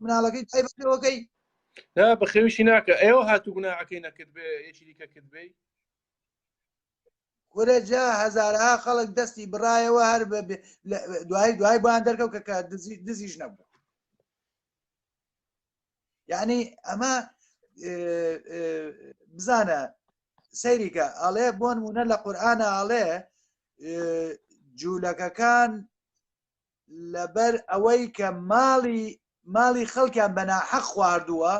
مناڵەکەی تایبەتەوەکەی بەخێویشی ناکە ئێوە هاتو گوناعەکەی نەکرد بێ یەکی دیکە کرد بێ کورەجا هەزارها خەڵک دەستی بڕایەوە هەر دوای دوای بۆیان دەرکەوت کە دزیش نەبوو یعنی ئەمە بزانە سەیریکە ئەڵێ بۆن وونە لە قورآە ئەڵێ جوولەکەکان لەبەر ئەوەی کە ماڵی ماڵی خەڵکیان بەنا حەق خواردووە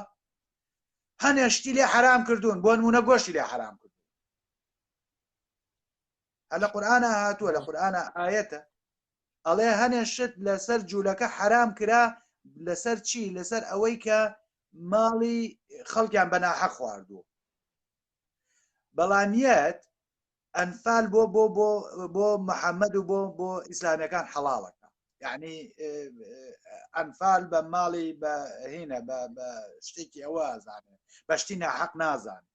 هەنێشتی لێ حرام کردوون بۆ نمونە گۆشتی لێ حرام کرد هە لە قورآە هاتووە لە قورآە ئاەتە ئەڵێ هەنێ شت لەسەر جوولەکە حەرام کرا لەسەر چی لەسەر ئەوەی کە ماڵی خەڵکیان بەناحە خواردووە بەڵامیت ئەنفال بۆ بۆ بۆ بۆ محەممەد و بۆ بۆ ئیسلامیەکان حەڵاڵەکە یعنی ئەنفال بە ماڵی بە هینە بە شتێکی ئەوە زانێت بەشتی ناحەق نازانێت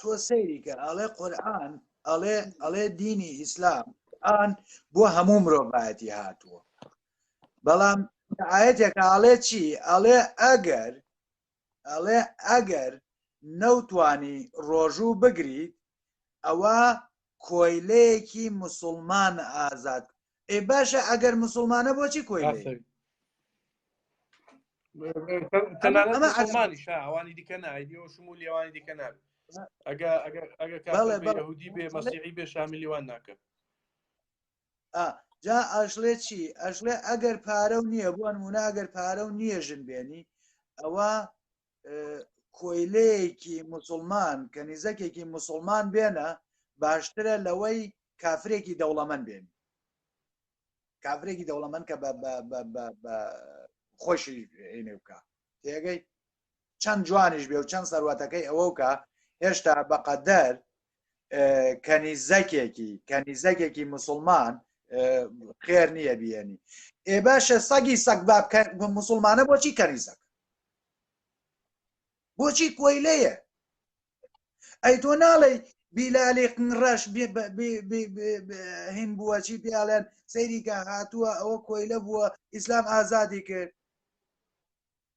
تۆ سەیری کە ئەڵێ قورآن ئەڵێ ئەڵێ دینی ئیسلام قورآن بۆ هەموو مرۆڤایەتی هاتووە بەڵام ئاەتێک ئاڵێ چی ئەڵێ ئەگەر ئەڵێ ئەگەر نەوتانی ڕۆژوو بگریت ئەوە کۆیلەیەکی موسوڵمان ئازاد ئێ باشە ئەگەر موسوڵمانە بۆچی کۆیلەیە ئەوانی دیکە نایدیەوە شمو لێوانی دیکە ناب ئەگە ئەگەهودی بێ مەسیحی بێ شامیلیوان ناکە جا ئەشلێ چی ئەشلێ ئەگەر پارە و نییە بۆن وونە ئەگەر پارە و نییە ژن بێنی ئەوە کۆیلەیەکی مسلمان کە نیزەکێکی مسلمان بێنە باشترە لەوەی کافرێکی دەوڵەمەند بێن کافرێکی دەوڵەمەند کە خۆشی عینێ بکە تێگەی چەند جوانیش بێ و چەند سەروەتەکەی ئەوەکە هێشتا بەقەدەر کەنیزەکێکی کەنیزەکێکی مسلمان خێر نییە بیێنی ئێ باشە سەگی سەگ باب مسلمانە بۆچی کەنیزەکە بۆچی کۆیلەیە ئەی تۆ ناڵێ بیلالی ڕەش هین بووە چی پیاڵێن سەیریکە هاتووە ئەوە کۆیلە بووە ئیسلام ئازادی کرد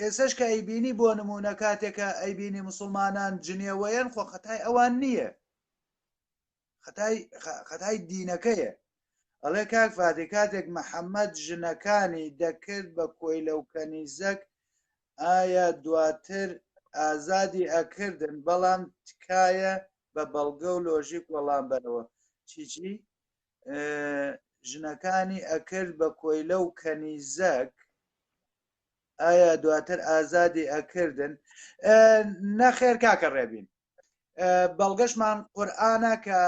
ئێسەش کە ئەیبینی بۆ نموونە کاتێ کە ئەیبینی مسوڵمانان جنێوەیەن خۆ خەتای ئەوان نییە خەتای خەتای دینەکەیە ئەڵێ کاک فادی کاتێک محەممەد ژنەکانی دەکرد بە کۆی لەو کەنیزەک ئایا دواتر ئازادی ئەکردن بەڵام تکایە بە بەڵگە و لۆژیک وەڵام بەرەوە چیچی ژنەکانی ئەکرد بە کۆیلە و کەنیزەک ئایا دواتر ئازادی ئەکردن نەخێر کاکە ڕێبین بەڵگەشمان قورآانە کە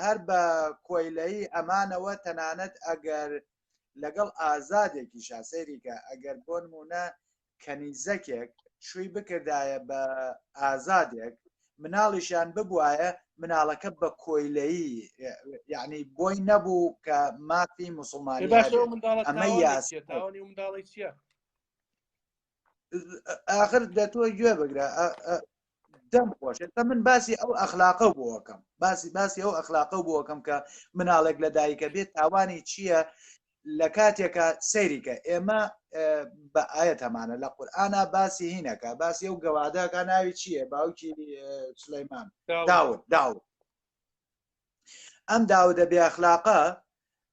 هەر بە کۆیلەی ئەمانەوە تەنانەت ئەگەر لەگەڵ ئازادێکی شاسەیریکە ئەگەر بۆ نمونە کەنیزەکێک شووی بکردایە بە ئازادێک مناڵیشیان ببوایە مناڵەکە بە کۆیلەیی یعنی بۆی نەبوو کە مافی مسلمانی ئەمە یاساوانی منداڵی چیە آخر دەتۆ گوێ بگرە دەم خۆشە تا من باسی ئەو ئەخلاقە بووەکەم باسی باسی ئەو ئەخلاقە بووەکەم کە مناڵێک لە دایکە بێت تاوانی چییە لە کاتێکە سەیریکە ئێمە بە ئاەت هەمانە لە قورآە باسی هینەکە باسی ئەو گەوادەکە ناوی چییە باوکی سلەیمان داود داود ئەم داودە بێخلاقە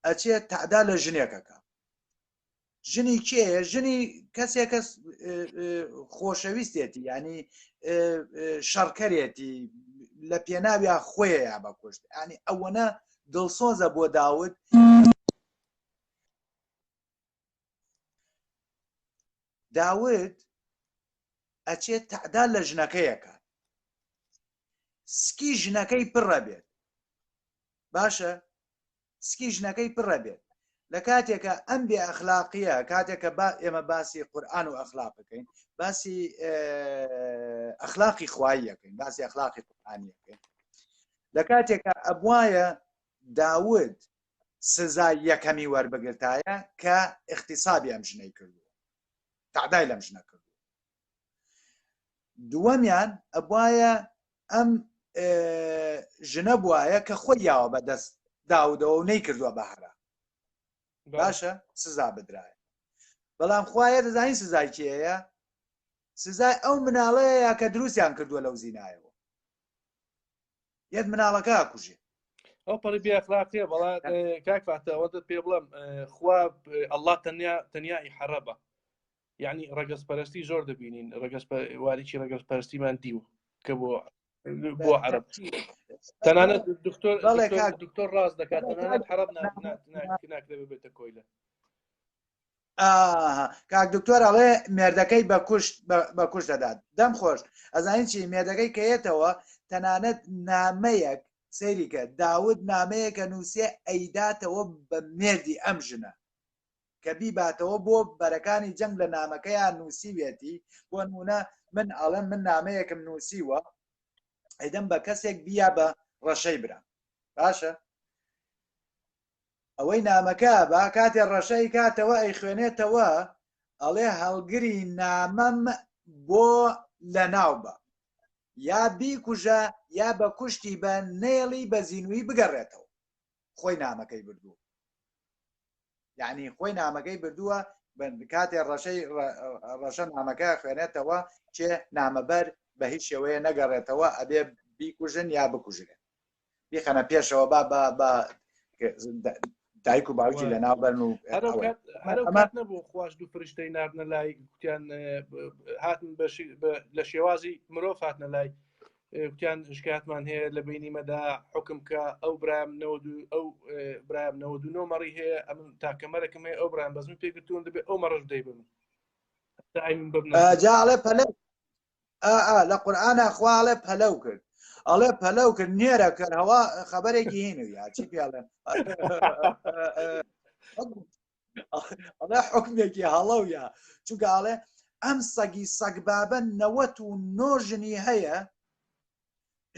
ئەچێت تەعدا لە ژنێکەکە ژنی کێ ژنی کەسێک کەس خۆشەویستێتی ینی شەڕکەرێتی لە پێناویا خۆیە یا بەکوشت ئەنی ئەوەنە دڵسۆزە بۆ داود داود ئەچێت تەعدا لە ژنەکەیەکە سکی ژنەکەی پڕە بێت باشە سکی ژنەکەی پڕە بێت لە کاتێکە ئەم بێ ئەخلاقیە کاتێکە با ئێمە باسی قورآان و ئەخلاق بکەین باسی ئەخلاقی خواییەکەین باسی ئەخلاقی قورآانیەکەین لە کاتێکا ئەبوایە داود سزای یەکەمی وەربگرتایە کە اختصابی ئەم ژنەی کردو تعدای لەم ژنە کرد دووەمیان ئەبواە ئەم ژنە بواە کە خۆی یاوە بە دەست داودەوە و نەی کردووە بەهرە باشە سزا بدرایە بەڵام خوایە دەزانین سزای کێەیە سزای ئەو مناڵەیە کە دروستیان کردووە لەو زینایەوە یەک مناڵەکە ئاکوژێ ئەو پەڕی بێخلاقێ بەڵا کاک فاتەوە دە پێ بڵم خوا ئەلله تەنیا تەنیایی حەرەبە یعنی ڕگەز پەرستی زۆر دەبینین ڕگەز واریی ڕگەز پەرستیمان دیوە کە بۆ بۆ عرب تەنانەت دکتۆر دکتۆر ڕاست دەکات تەنانەت حرب ناکرێت بێتە کۆیلە ئاها کاک دکتۆر ئەڵێ مێردەکەی بە کوشت بە کوش دەدات دەم خۆش ئەزانین چی مێردەکەی کەیەتەوە تەنانەت نامەیەک سەیریکە داود نامەیەکە نووسە ئەیداتەوە بە مێردی ئەم ژنە کە بیباتەوە بۆ بەرەکانی جەنگ لە نامەکەیان نووسیوێتی بۆ نمونە من ئەڵم من نامەیەکم نووسیوە ئەدەم بە کەسێک بیا بە ڕەشەی برا باشە ئەوەی نامەکە با کاتێ ڕەشەی کاتەوە ئەیخوێنێتەوە ئەڵێ هەڵگری نامەم بۆ لە ناو بە یا بیکوژە یا بە کوشتی بە نێڵی بە زیینوی بگەڕێتەوە خۆی نامەکەی بردووە یعنی خۆی نامەکەی بردووە کاتێ ڕەشەی ڕەشە نامەکە خوێنێتەوە چێ نامەبەر بە هیچ شێوەیە نەگەڕێتەوە ئەبێ بیکوژن یا بکوژرێن بیخەنە پێشەوە با با با دایک و باوکی لە ناو بەرن و نەبوو خواش دوو فرشتەی نردە لای کوتیان هاتن لە شێوازی مرۆڤ هاتنە لای کوتیان شکاتمان هەیە لە بینیمەدا حکم کە ئەو برایم ئەو برایم نەوە مەڕی هەیە ئەم تاکەمەرەکەم هەیە ئەو برام بەزم پێگرتون دەبێت ئەو مەڕش دەیبن جاڵێ پەلە ئا لە قورآە خوا ئەڵێ پەلەو کرد ئەڵێ پەلەو کرد نێرە کرد هەوا خبرێکی هین و یاچی پێڵێن ئەڵێ حکمێکی هەڵەو یا چونکە ئاڵێ ئەم سەگی سەگبابە نەوەت و نۆژنی هەیە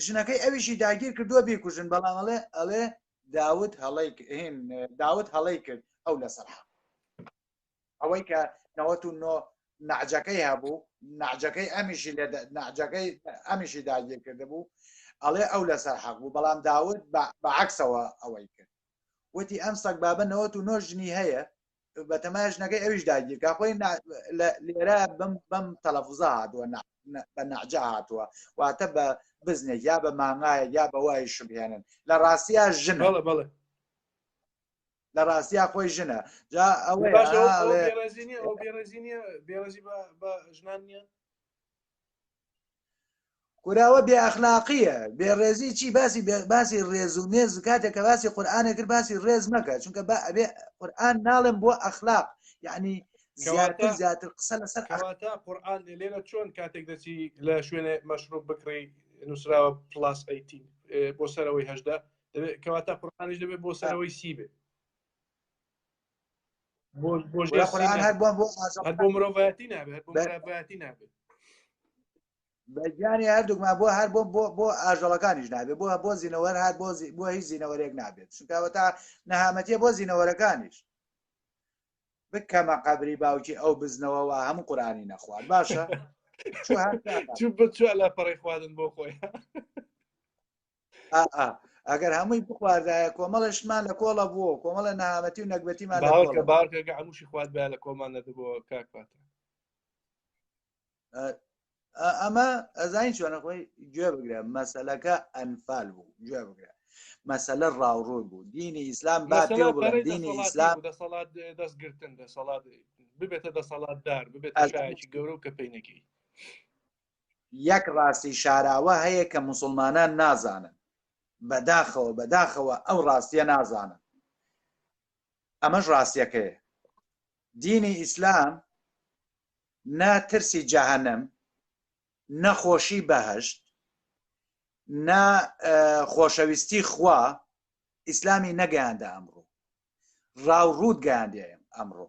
ژنەکەی ئەویشی داگیر کردووە بیکوژن بەڵام ئەڵێ ئەڵێ داوت هەڵی داوت هەڵی کرد ئەو لەسەر حق ئەوەی کە نەوەت و نۆ نەعجەکەی هەبوو نەعجەکەی ئەمیشی لە نەعجەکەی ئەمیشی داگیر کرده بوو ئەڵێ ئەو لەسەر حەق بوو بەڵام داود بە عکسەوە ئەوەی کرد وتی ئەم سەگ بابە نەوەت و نۆ ژنی هەیە بە تەماش نەکەی ئەویش داگیرکە خۆی لێرە بم بەم تەلەفزە هاتووە بە نەعجا هاتووە واتە بە بزنێک یا بە مانگایە یا بە وای شبهێنن لە ڕاستیا ژن بەڵێ بەڵێ لە ڕاستیا خۆی ژنە جا ئەوە کوراوە بێ ئەخلاقیە بێ ڕێزی چی باسی باسی ڕێز و مێز کاتێک کە باسی قورآانە کرد باسی ڕێز مەکە چونکە بە ئەبێ قورآان ناڵێم بۆ ئەخلاق یعنی زیاتر زیاتر قسە لەسەر ئەواتە قورآان لێرە چۆن کاتێک دەچی لە شوێنێ مەشروب بکڕی نووسراوە پلاس ئەیتین بۆ سەرەوەی هەشدا دەبێت کەواتە قورآانیش دەبێت بۆ سەرەوەی سی بێت بۆ مرۆڤەتی نابێت بۆتی نابێت بەگیانی هەردووکمان بۆ هەر بۆ بۆ بۆ ئاژەڵەکانیش نابێت بۆ بۆ زیینەوەر هەر بۆ بۆ هیچ زیینەوەرێک نابێت چونکەوە تا نەهامەتیە بۆ زیینەوەرەکانیش بکەمە قەبری باوکی ئەو بزنەوەەوە هەموو قورآانی نەخوارد باشە چ بچوە لە پەڕی خواردن بۆ خۆی ئەگەر هەمووی بخواردایە کۆمەڵشمان لە کۆڵە بووە کۆمەڵە نەهامەتی و نەگبەتیمان باوەکە هەمووشی خوارد بە لە کۆمان نەدەبەوە کاکات ئەمە ئەزین چۆنە خۆی گوێ بگرە مەسلەکە ئەنفال بوو گوێ بگرە مەسلە ڕاوڕوون بوو دینی ئیسلام با دینی ئیسلام دەسەڵات دەستگرتن دەسەڵات ببێتە دەسەڵاتدار ببێت گەورە و کە پێینەکەی یەک ڕاستی شاراوە هەیە کە موسڵمانان نازانن بەداخەوە بەداخەوە ئەو ڕاستیە نازانن ئەمەش ڕاستیەکەیە دینی ئیسلام نە ترسی جەهەنم نەخۆشی بەهشت نە خۆشەویستی خوا ئیسلامی نەگەیاندە ئەمڕۆ ڕاوڕووت گەیاندێ ئەمڕۆ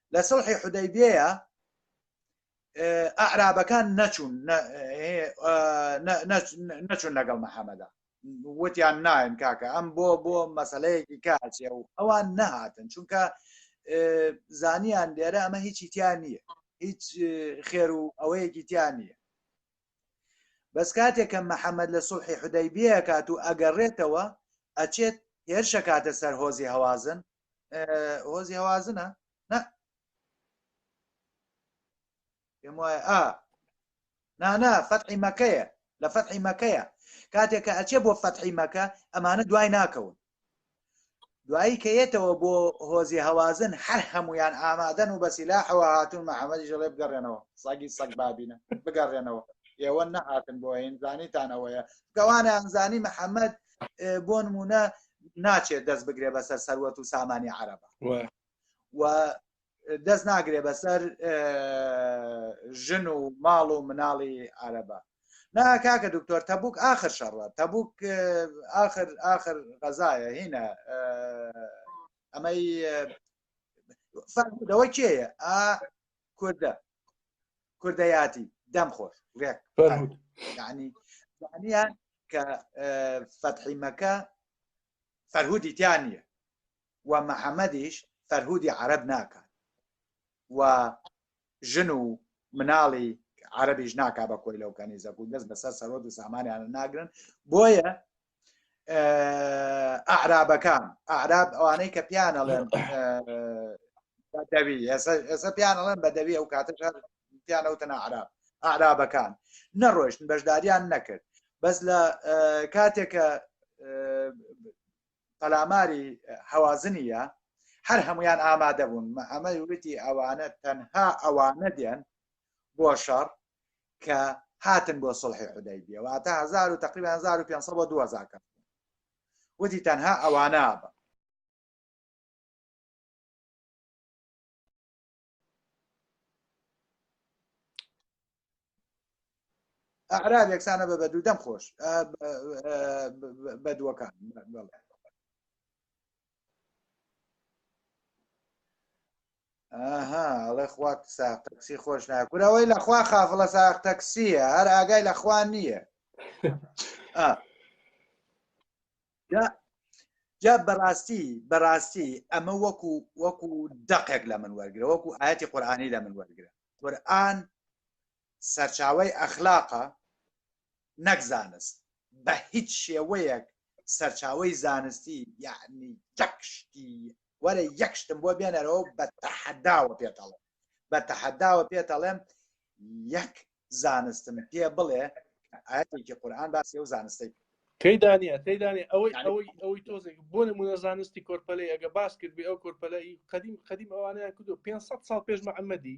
لە سڵحی حودەیبیەیە ئەعرابەکان نەچوون نەچوون لەگەڵ محەممەدا وتیان ناین کاکە ئەم بۆ بۆ مەسلەیەکی کاچێ و ئەوان نەهاتن چونکە زانیان لێرە ئەمە هیچی تیان نییە هیچ خێر و ئەوەیەکی تیان نییە بەس کاتێک کە محەممەد لە سوڵحی حدەی بێکات و ئەگەڕێتەوە ئەچێت هێرشە کاتە سەر هۆزی هەوازن هۆزی هەوازنە نە پێم وایە ئا نانا فەتحی مەکەیە لە فەتحی مەکەیە کاتێک کە ئەچێ بۆ فەتحی مەکە ئەمانە دوای ناکەون دوایی کەیەتەوە بۆ هۆزی هەوازن هەر هەمویان ئامادەن و بەسیلا حەوە هاتون محەممەدی ژڵێ بگەڕێنەوە ساگی سەگ بابینە بگەڕێنەوە ئێوە نەهاتن بۆ ئەین زانیتان ئەوەیە گەوانیان زانی محەممەد بۆ نمونە ناچێت دەست بگرێ بەسەر سەروەت و سامانی عربە و دەست ناگرێ بەسەر ژن و ماڵ و مناڵی عربە نا کاکە دکتۆر تەبوک آخر شەڕە تەبوک آخر آخر غەزایە هینە ئەمەی فەرمودەوە کێیە کوردە کوردەیاتی دەم خۆش ڕێک ینی دانیان کە فەتحیمەکە فەرهودی تیان نیە و محەممەدیش فەرهودی عرب ناکات و ژن و مناڵی عربیش ناکا بە کۆی لەو کەنیزەک و دەست بەسەر سەرۆ و سامانیان ناگرن بۆیە ئەعرابەکان ئەعراب ئەوانەی کە پیان ئەڵێن بەدەوی ئێستا پیان ئەڵێن بەدەوی ئەو کاتە پیانەوتن ئەعراب ئەعرابەکان نەڕۆشتن بەشداریان نەکرد بەس لە کاتێکە پەلاماری هەوازنیە هەر هەمویان ئامادە بوون ئەمە وتی ئەوانە تەنها ئەوانە دێن بۆ شەڕ کە هاتن بۆ سڵحی حدای بێ واتە هزار و تقریبا 1500 بۆ 2000 کە وتی تەنها ئەوانە بە ئەعراب یەکسانە بە بەدوو دەم خۆش بەدووەکان ئاها ئەڵێ خوا ساق تەکسی خۆش ناکورەوەی لەخوا خافڵە ساق تەکسیە هەر ئاگای لەخوا نییە جا بەڕاستی بەڕاستی ئەمە وەکو وەکو دەقێک لە من وەرگرە وەکو ئاەتی قورآانی لە من وەرگرە قورآن سەرچاوەی ئەخلاقە نەک زانست بە هیچ شێوەیەک سەرچاوەی زانستی یەعنی یەک شتی وەرە یەک شتم بۆ بێنەرەوە بە تەحەداوە پێتەڵێ بە تەحەداوە پێتەڵێم یەک زانستم پێ بڵێ ئاەتێکی قورآان باسی ئەو زانستی کەی دانیە کەی دانێ ئەوەی ئەوەی ئەوەی تۆزێک بۆ نمونە زانستی کۆرپەلەی ئەگە باس کرد بێ ئەو کۆرپەلەی قدیم قدیم ئەوانیان کردو 500 ساڵ پێش محەممەدی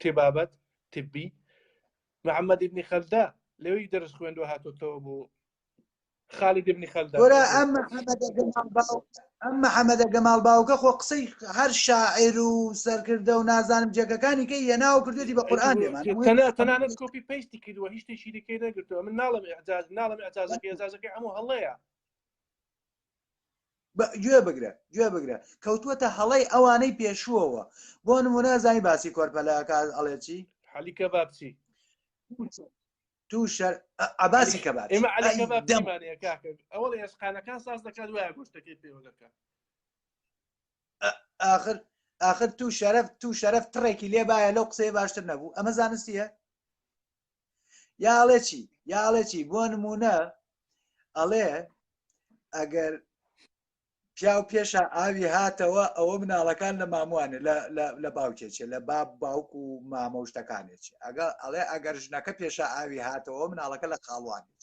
تبابەت، طبی، محمد ابن خەلدە لەوێی دەرس خوێندوە هاتۆتەوە بۆ خالد ابن خەلدە وەرە ئەم محەمەدە گەماڵ باو ئەم محەمەدە گەماڵ باوکە خۆ قسەی هەر شاعر و سەرکردە و نازانم جێگەکانی کە یەناو کردێتی بە قورآن لێمان تەنە تەنانەت کۆپی پەیستی کردووە هیچ شتێکی دیکەی نەگرتووە من ناڵم ئەجاز ناڵم ئەجازەکە ئەجازەکەی هەموو هەڵەیە گوێ بگرە گوێ بگرە کەوتووەتە هەڵەی ئەوانەی پێشووەوە بۆ نمونە زانی باسی کۆرپەلەکە ئەڵێ چی حەلی کە بابچی تو شەر عباسی کە باش ئێمە عەلی کە بابمانەیە کاکە ئەوە لە ئێسقانەکان ساز دەکات وایە گۆشتەکەی پێوە دەکات آخر آخر تو شەرف تو شەرف تڕێکی لێبایە لەو قسەیە باشتر نەبوو ئەمە زانستیە یا ئەڵێ چی یا ئەڵێ چی بۆ نمونە ئەڵێ ئەگەر پیاو پێشە ئاوی هاتەوە ئەوە مناڵەکان لە ماموانێ لە باوکێکێ لە باب باوک و مامە شتەکانێک ئەگە ئەڵێ ئەگەر ژنەکە پێشە ئاوی هاتەوە مناڵەکە لە خاڵوانێک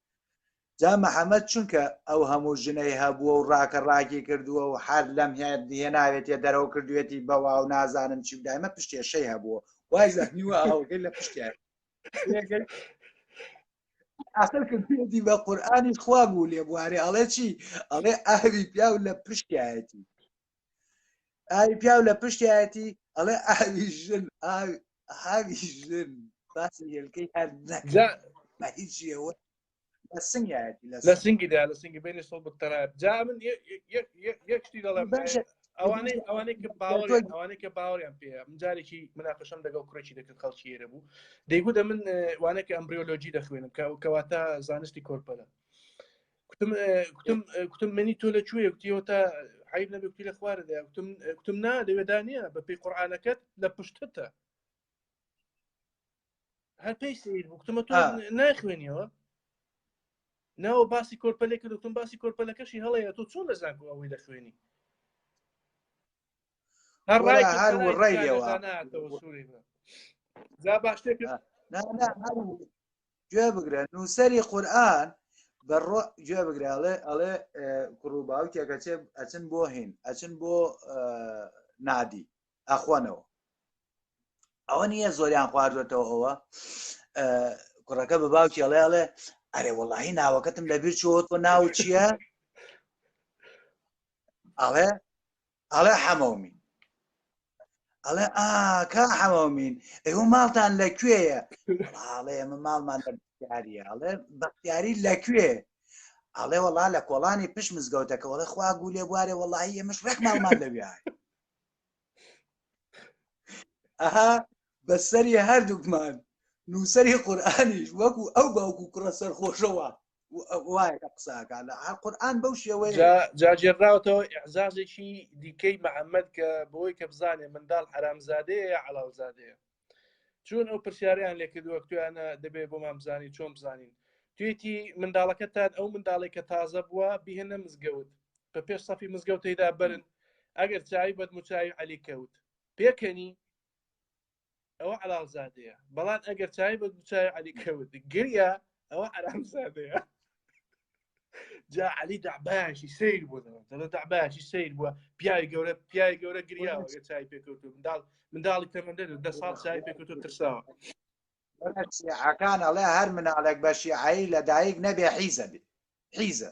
جا محمد چونکە ئەو هەموو ژنەی هەبووە و ڕاکە ڕاکی کردووە و حەر لەم هێناوێتە دەرەوە کردوێتی بەوا و نازانم چی دایمە پشتێشەی هەبووە وای زەحنیوە ئەوگەی لە پشتیان ئەخر کردی بە قورآانیش خوا بوو لێ بوارێ ئەڵێ چی ئەڵێ ئاوی پیاو لە پشتایەتی ئاوی پیاو لە پشتایەتی ئەڵێ ئاوی ژن ئاوی ژن باسی هێلکەی هەر نەکەەوە لە سنگایەتی لە سنگیدا لە سنگی بینی سڵ بکتەرا جا من یەکشتی دەڵێ ئەوانەی ئەوانەی کە باوە ئەوانەی کە باوەیان پێ من جارێکی مناقەشم دەگەڵ کوڕێکی دەکرد خەڵکیێرە بوو دەیگو دە من وانەکە ئەمبریۆلۆجی دەخوێنم کە کەواتە زانستی کۆرپەلە کوتم کوتم کوتم منی تۆ لە کوێ کوتیەوە تا عیب نەبێ کوتی لە خوارە دەیا کوتم کوتم نا لەوێدا نییە بە پێی قورآانەکەت لە پشتتە هەر پێی سیر بوو کوتمە تۆ ناخوێنیەوە ناوە باسی کۆرپەلێ کردتون باسی کۆرپەلەکەشی هەڵەیە تۆ چۆن لە زانکو ئەوەی لە خوێنی هەر ڕای هەر ڕێەوە جا باشتێک گوێ بگرە نووسری قورآن بە گوێ بگرە ئەڵێ ئەڵێ کوڕ و باوکێکە چێ ئەچن بۆ هین ئەچن بۆ نادی ئەخۆنەوە ئەوە نییە زۆریان خواردوێتەوە ئەوە کوڕەکە بە باوکی ئەڵێ ئەڵێ ئەرێ وەڵی ناوەکەتم لەبیر چۆت و ناو چییە ئەڵێ ئەڵێ حەمەومین ئەڵێ ئاکە حەمەومین ئەو ماڵتان لە کوێیە ئاڵێ ئەمە ماڵمان لە بەختیاریە ئەڵێ بەختیاری لە کوێ ئەڵێ وەڵا لە کۆڵانی پشت مزگەوتەکە وڵە خوا گولێ بوارێ وەڵی ئەمەش ڕێک ماڵمان لەوێ ئەها بەسەری هەردووکمان نووسری قورآانیش وەکو ئەو باوکو کوڕە سەرخۆشەوە وایە کە قساکە لە قورآن بەو شێوەیە جاجێراوتەوە ئەعزازێکی دیکەی محەممەد کە بۆی کە بزانێ منداڵ حرامزادەیە یا علاڵزادەیە چون ئەو پرسیاریان لێکردووە تویانە دەبێت بۆ مامزانی چۆن بزانین توێتی منداڵەکەتان ئەو منداڵێک کە تازە بووە بهێنە مزگەوت بە پێش سەفی مزگەوتەیدا برن ئەگەر چاوی بەدموچوی علی کەوت پێکەنی ئەوە عراقزادەیە بەڵان ئەگەر چای بە دووچوی علی کەوت گریا ئەوە عراقزادەیە جا علی داباشی سیر بوو دەڵە داباشی سیر بووە پیاوی گەورە پیاوی گەورە گریاوە گە چای پێکەوت منداڵ منداڵی تەمەندە دە ساڵ چای پێکەوت و ترساوە عکان ئەڵێ هەر مناڵێک بەشی ئای لە دایک نەبێ حیزە بێ حیزە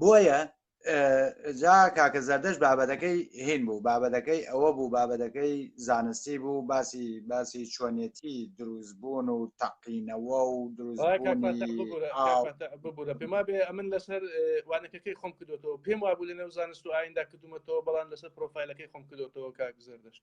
بۆیە جا کاکە زەردەش بابەتەکەی هین بوو بابەتەکەی ئەوە بوو بابەتەکەی زانستی بوو باسی باسی چۆنیەتی دروست بوون و تەقینەوە و دروست ببوورە پێما بێ ئەمن لەسەر وانەکەکەی خۆم کردوەوە پێم وا بوو لە نێو زانست و ئایندا کردومەتەوە بەڵام لەسەر پرۆفایلەکەی خۆم کردوەوە کاک زەردەشت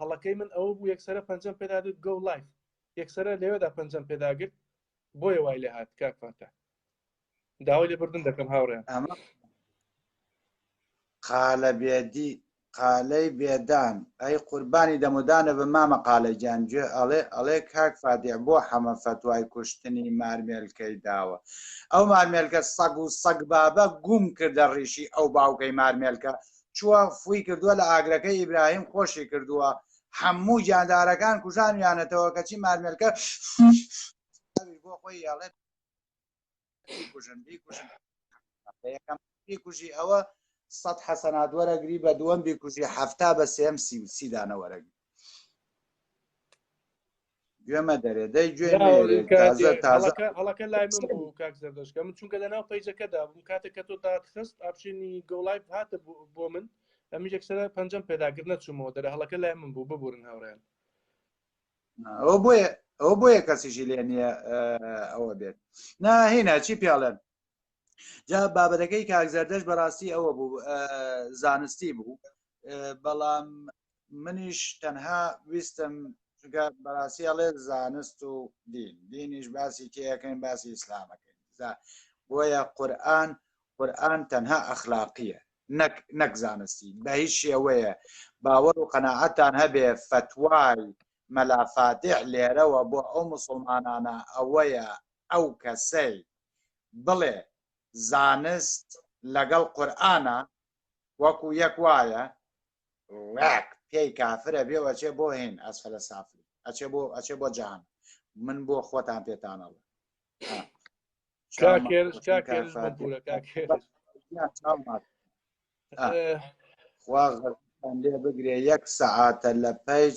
هەڵەکەی من ئەوە بوو یەکسەرە پەنجەم پێدا دەت گۆ لایف یەکسەرە لەوێدا پەنجەم پێداگرت بۆیە وای لێ هات کاک فاتە داوای لێ بردن دەکەم هاوڕێیان ئەمە قالە بێدی قالەی بێدان ئەی قوربانی دەمودانە بە مامە قالە گیان گوێ ئەڵێ ئەڵێ کاک فادێ بۆ حەمە فەتوای کوشتنی مارمێلکەی داوە ئەو مارمێلکە سەگ و سەگ بابە گوم کردە ڕیشی ئەو باوکەی مارمێلکە چووە فووی کردووە لە ئاگرەکەی ئیبراهیم خۆشی کردووە هەموو گیاندارەکان کوژانویانەتەوە کەچی مارمێلکە بۆ خۆی یاڵێت بیکوژن بیکوژن یەکەم بیکوژی ئەوە سەد حەسەنات وەرەگری بە دووەم بیکوژی هەفتا بە سێم سی سیدانە وەرەگری گوێمە دەرێ دەی گوێ هەڵەکە لای من بوو کاک زەردەشکە من چونکە لە ناو پیجەکەدا بووم کاتێک کە تۆ داخست ئاپشێنی گۆڵای هاتە بۆ من ئەمی یەکسرە پەنجەم پێداگر نەچوومەوە دەرە هەڵەکە لای من بوو ببورن هاوڕێن ئەو بۆیە ئەو بۆیە کەسیشی لێ نییە ئەوە بێت ناهێنا چی پیاڵێن جا بابەتەکەی کاکزەردەش بەڕاستی ئەوە بوو زانستی بوو بەڵام منیش تەنها ویستم چونکە بەڕاستی ئەڵێ زانست و دین دینیش باسی تێەکەین باسی ئیسلامەکەین بۆیە قورآن قورآن تەنها ئەخلاقیە نەک نەک زانستی بە هیچ شێوەیە باوەڕ و قەنەعەتان هەبێ فتوای مەلافاتێ لێرەوە بۆ ئەو مسلمانانە ئەوەیە ئەو کەسەی بڵێ زانست لەگەڵ قورآە وەکو یەک وایە ڕاک پێی کافرە بێ ئەچێ بۆ هێن ئەسفلە سافلی ئەچێ بۆ ئەچێ بۆ جان من بۆ خۆتان پێتانەڵە خوا لێ بگرێ یەک سەعاتە لە پەیج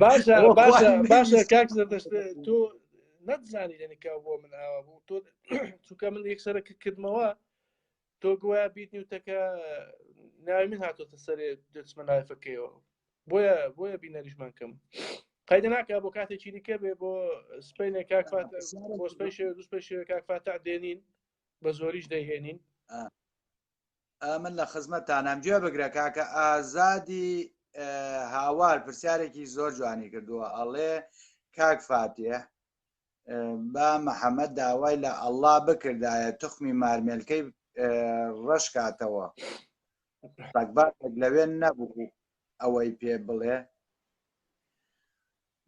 باشە باشە باشە کاک زەردەشت تۆ نەتزانی لەنیکا بۆ من ئاوا بوو تۆ چونکە من یەکسەرە کردمەوە تۆ گویا بیت نیوتەکە ناوی من هاتۆتە سەرێ دەچمە نایفەکەیەوە بۆیە بۆیە بینەریشمان کەم قەیدە ناکە بۆ کاتێکی دیکە بێ بۆ سپینێ کاکفات بۆ سپی دوست پێ کاکفاتە دێنین بە زۆریش دەهێنین من لە خزمەتانم گوێ بگرە کاکە ئازادی هاوار پرسیارێکی زۆر جوانی کردووە ئەڵێ کاک فاتێ با محەممەد داوای لە ئەللا بکردایە تخمی مارمێلکەی ڕەشکاتەوە بەگبات لەوێن نەبوو ئەوەی پێ بڵێ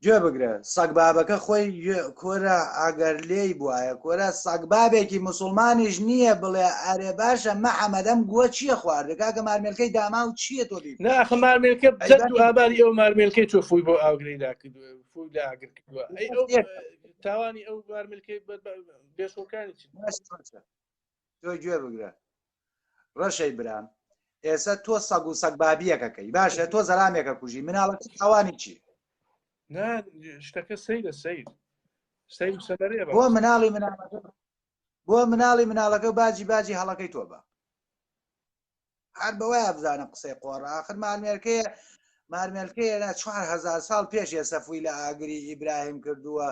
گوێ بگرە سەگ بابەکە خۆی گوێ کۆرە ئەگەر لێی بوایە کۆرە سەگ بابێکی موسڵمانیش نییە بڵێ ئەرێ باشە محەمەد ئەم گووە چییە خواردە کاکە مارمێلکەی داما و چییە تۆ بی نا ئەخە مارمێلکە جەت و ئاباری ئەو مارمێلکەی تۆ فووی بۆ ئاوگرەی دا کردووە فووی لا ئاگر کردووە ئەی ئەو یەک. تاوانی ئەو مارمێلکەی بەربە- بێشوەکانی چی تۆ گوێ بگرە ڕەشەی برام ئێسە تۆ سەگ و سەگ بابیەکە کەی باشە تۆ زەرامێکە کوژی مناڵەکە تاوانی چی نا شتەکە سەیرە سیر سیر سەبەرێ بۆ مناڵی مناڵەکە بۆ مناڵی مناڵەکە باجی باجی هەڵەکەی تۆ بە هەر بەوە بزانە قسەی قۆڕە آخر مارمێرکەیە مارمێلکەیە لە 4هزار ساڵ پێش ێسەفوی لە ئاگری ئیبراهیم کردووە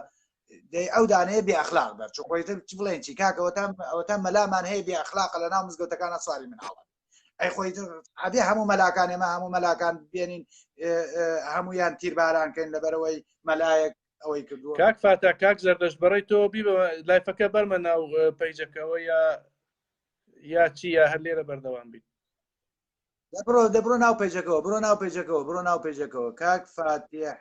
دەی ئەو دانەیە بێ ئەخلاق بەر چ خۆی چ بڵێن چی کاکەوەتا ئەوەتا مەلامان هەیە بێ ئەخلاقە لە ناو مزگەوتەکانە سواری مناڵە ئەی خۆی ئەبێ هەموو مەلاکان ئێمە هەموو مەلاکان بێنین هەمویان تیرباران کەین لەبەرەوەی مەلایەک ئەوەی کردو کاک فاتا کاک زەردەش بەڕی تۆ بی لایفەکە بەرمە ناو پەیجەکەەوە یا یا چی یا هەر لێرە بەردەوام بیت بڕۆ دەبڕۆ ناو پێجەکەەوە بڕۆ ناو پێجەکەەوە بڕۆ ناو پێجەکەەوە کاک فاتیح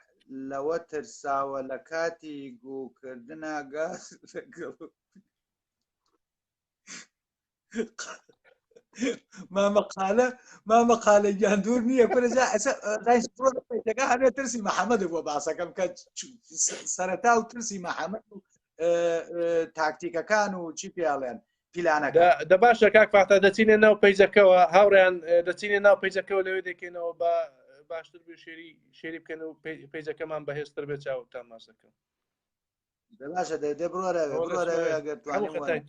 لەوە ترساوە لە کاتی گوکردنا گاز مامەقالە مامەقالە گیان دوور نییە پرجا ئەسەگە هەمێ ترسی محەممەد بۆ باسەکەم کە سەرەتا و ترسی محەممەد تاکتیکەکان و چی پێڵێن پیلانەکە دە باشە کاک فاتا دەچینە ناو پیجەکەەوە هاوڕیان دەچینە ناو پیجەکەەوە لەوێ دەکەینەوە بە باشتر بێ شێری شێری بکەن و پیجەکەمان بەهێزتر بێ چاو تا ماسەکە باشە دەێ بڕۆرە ئەگەر توانێت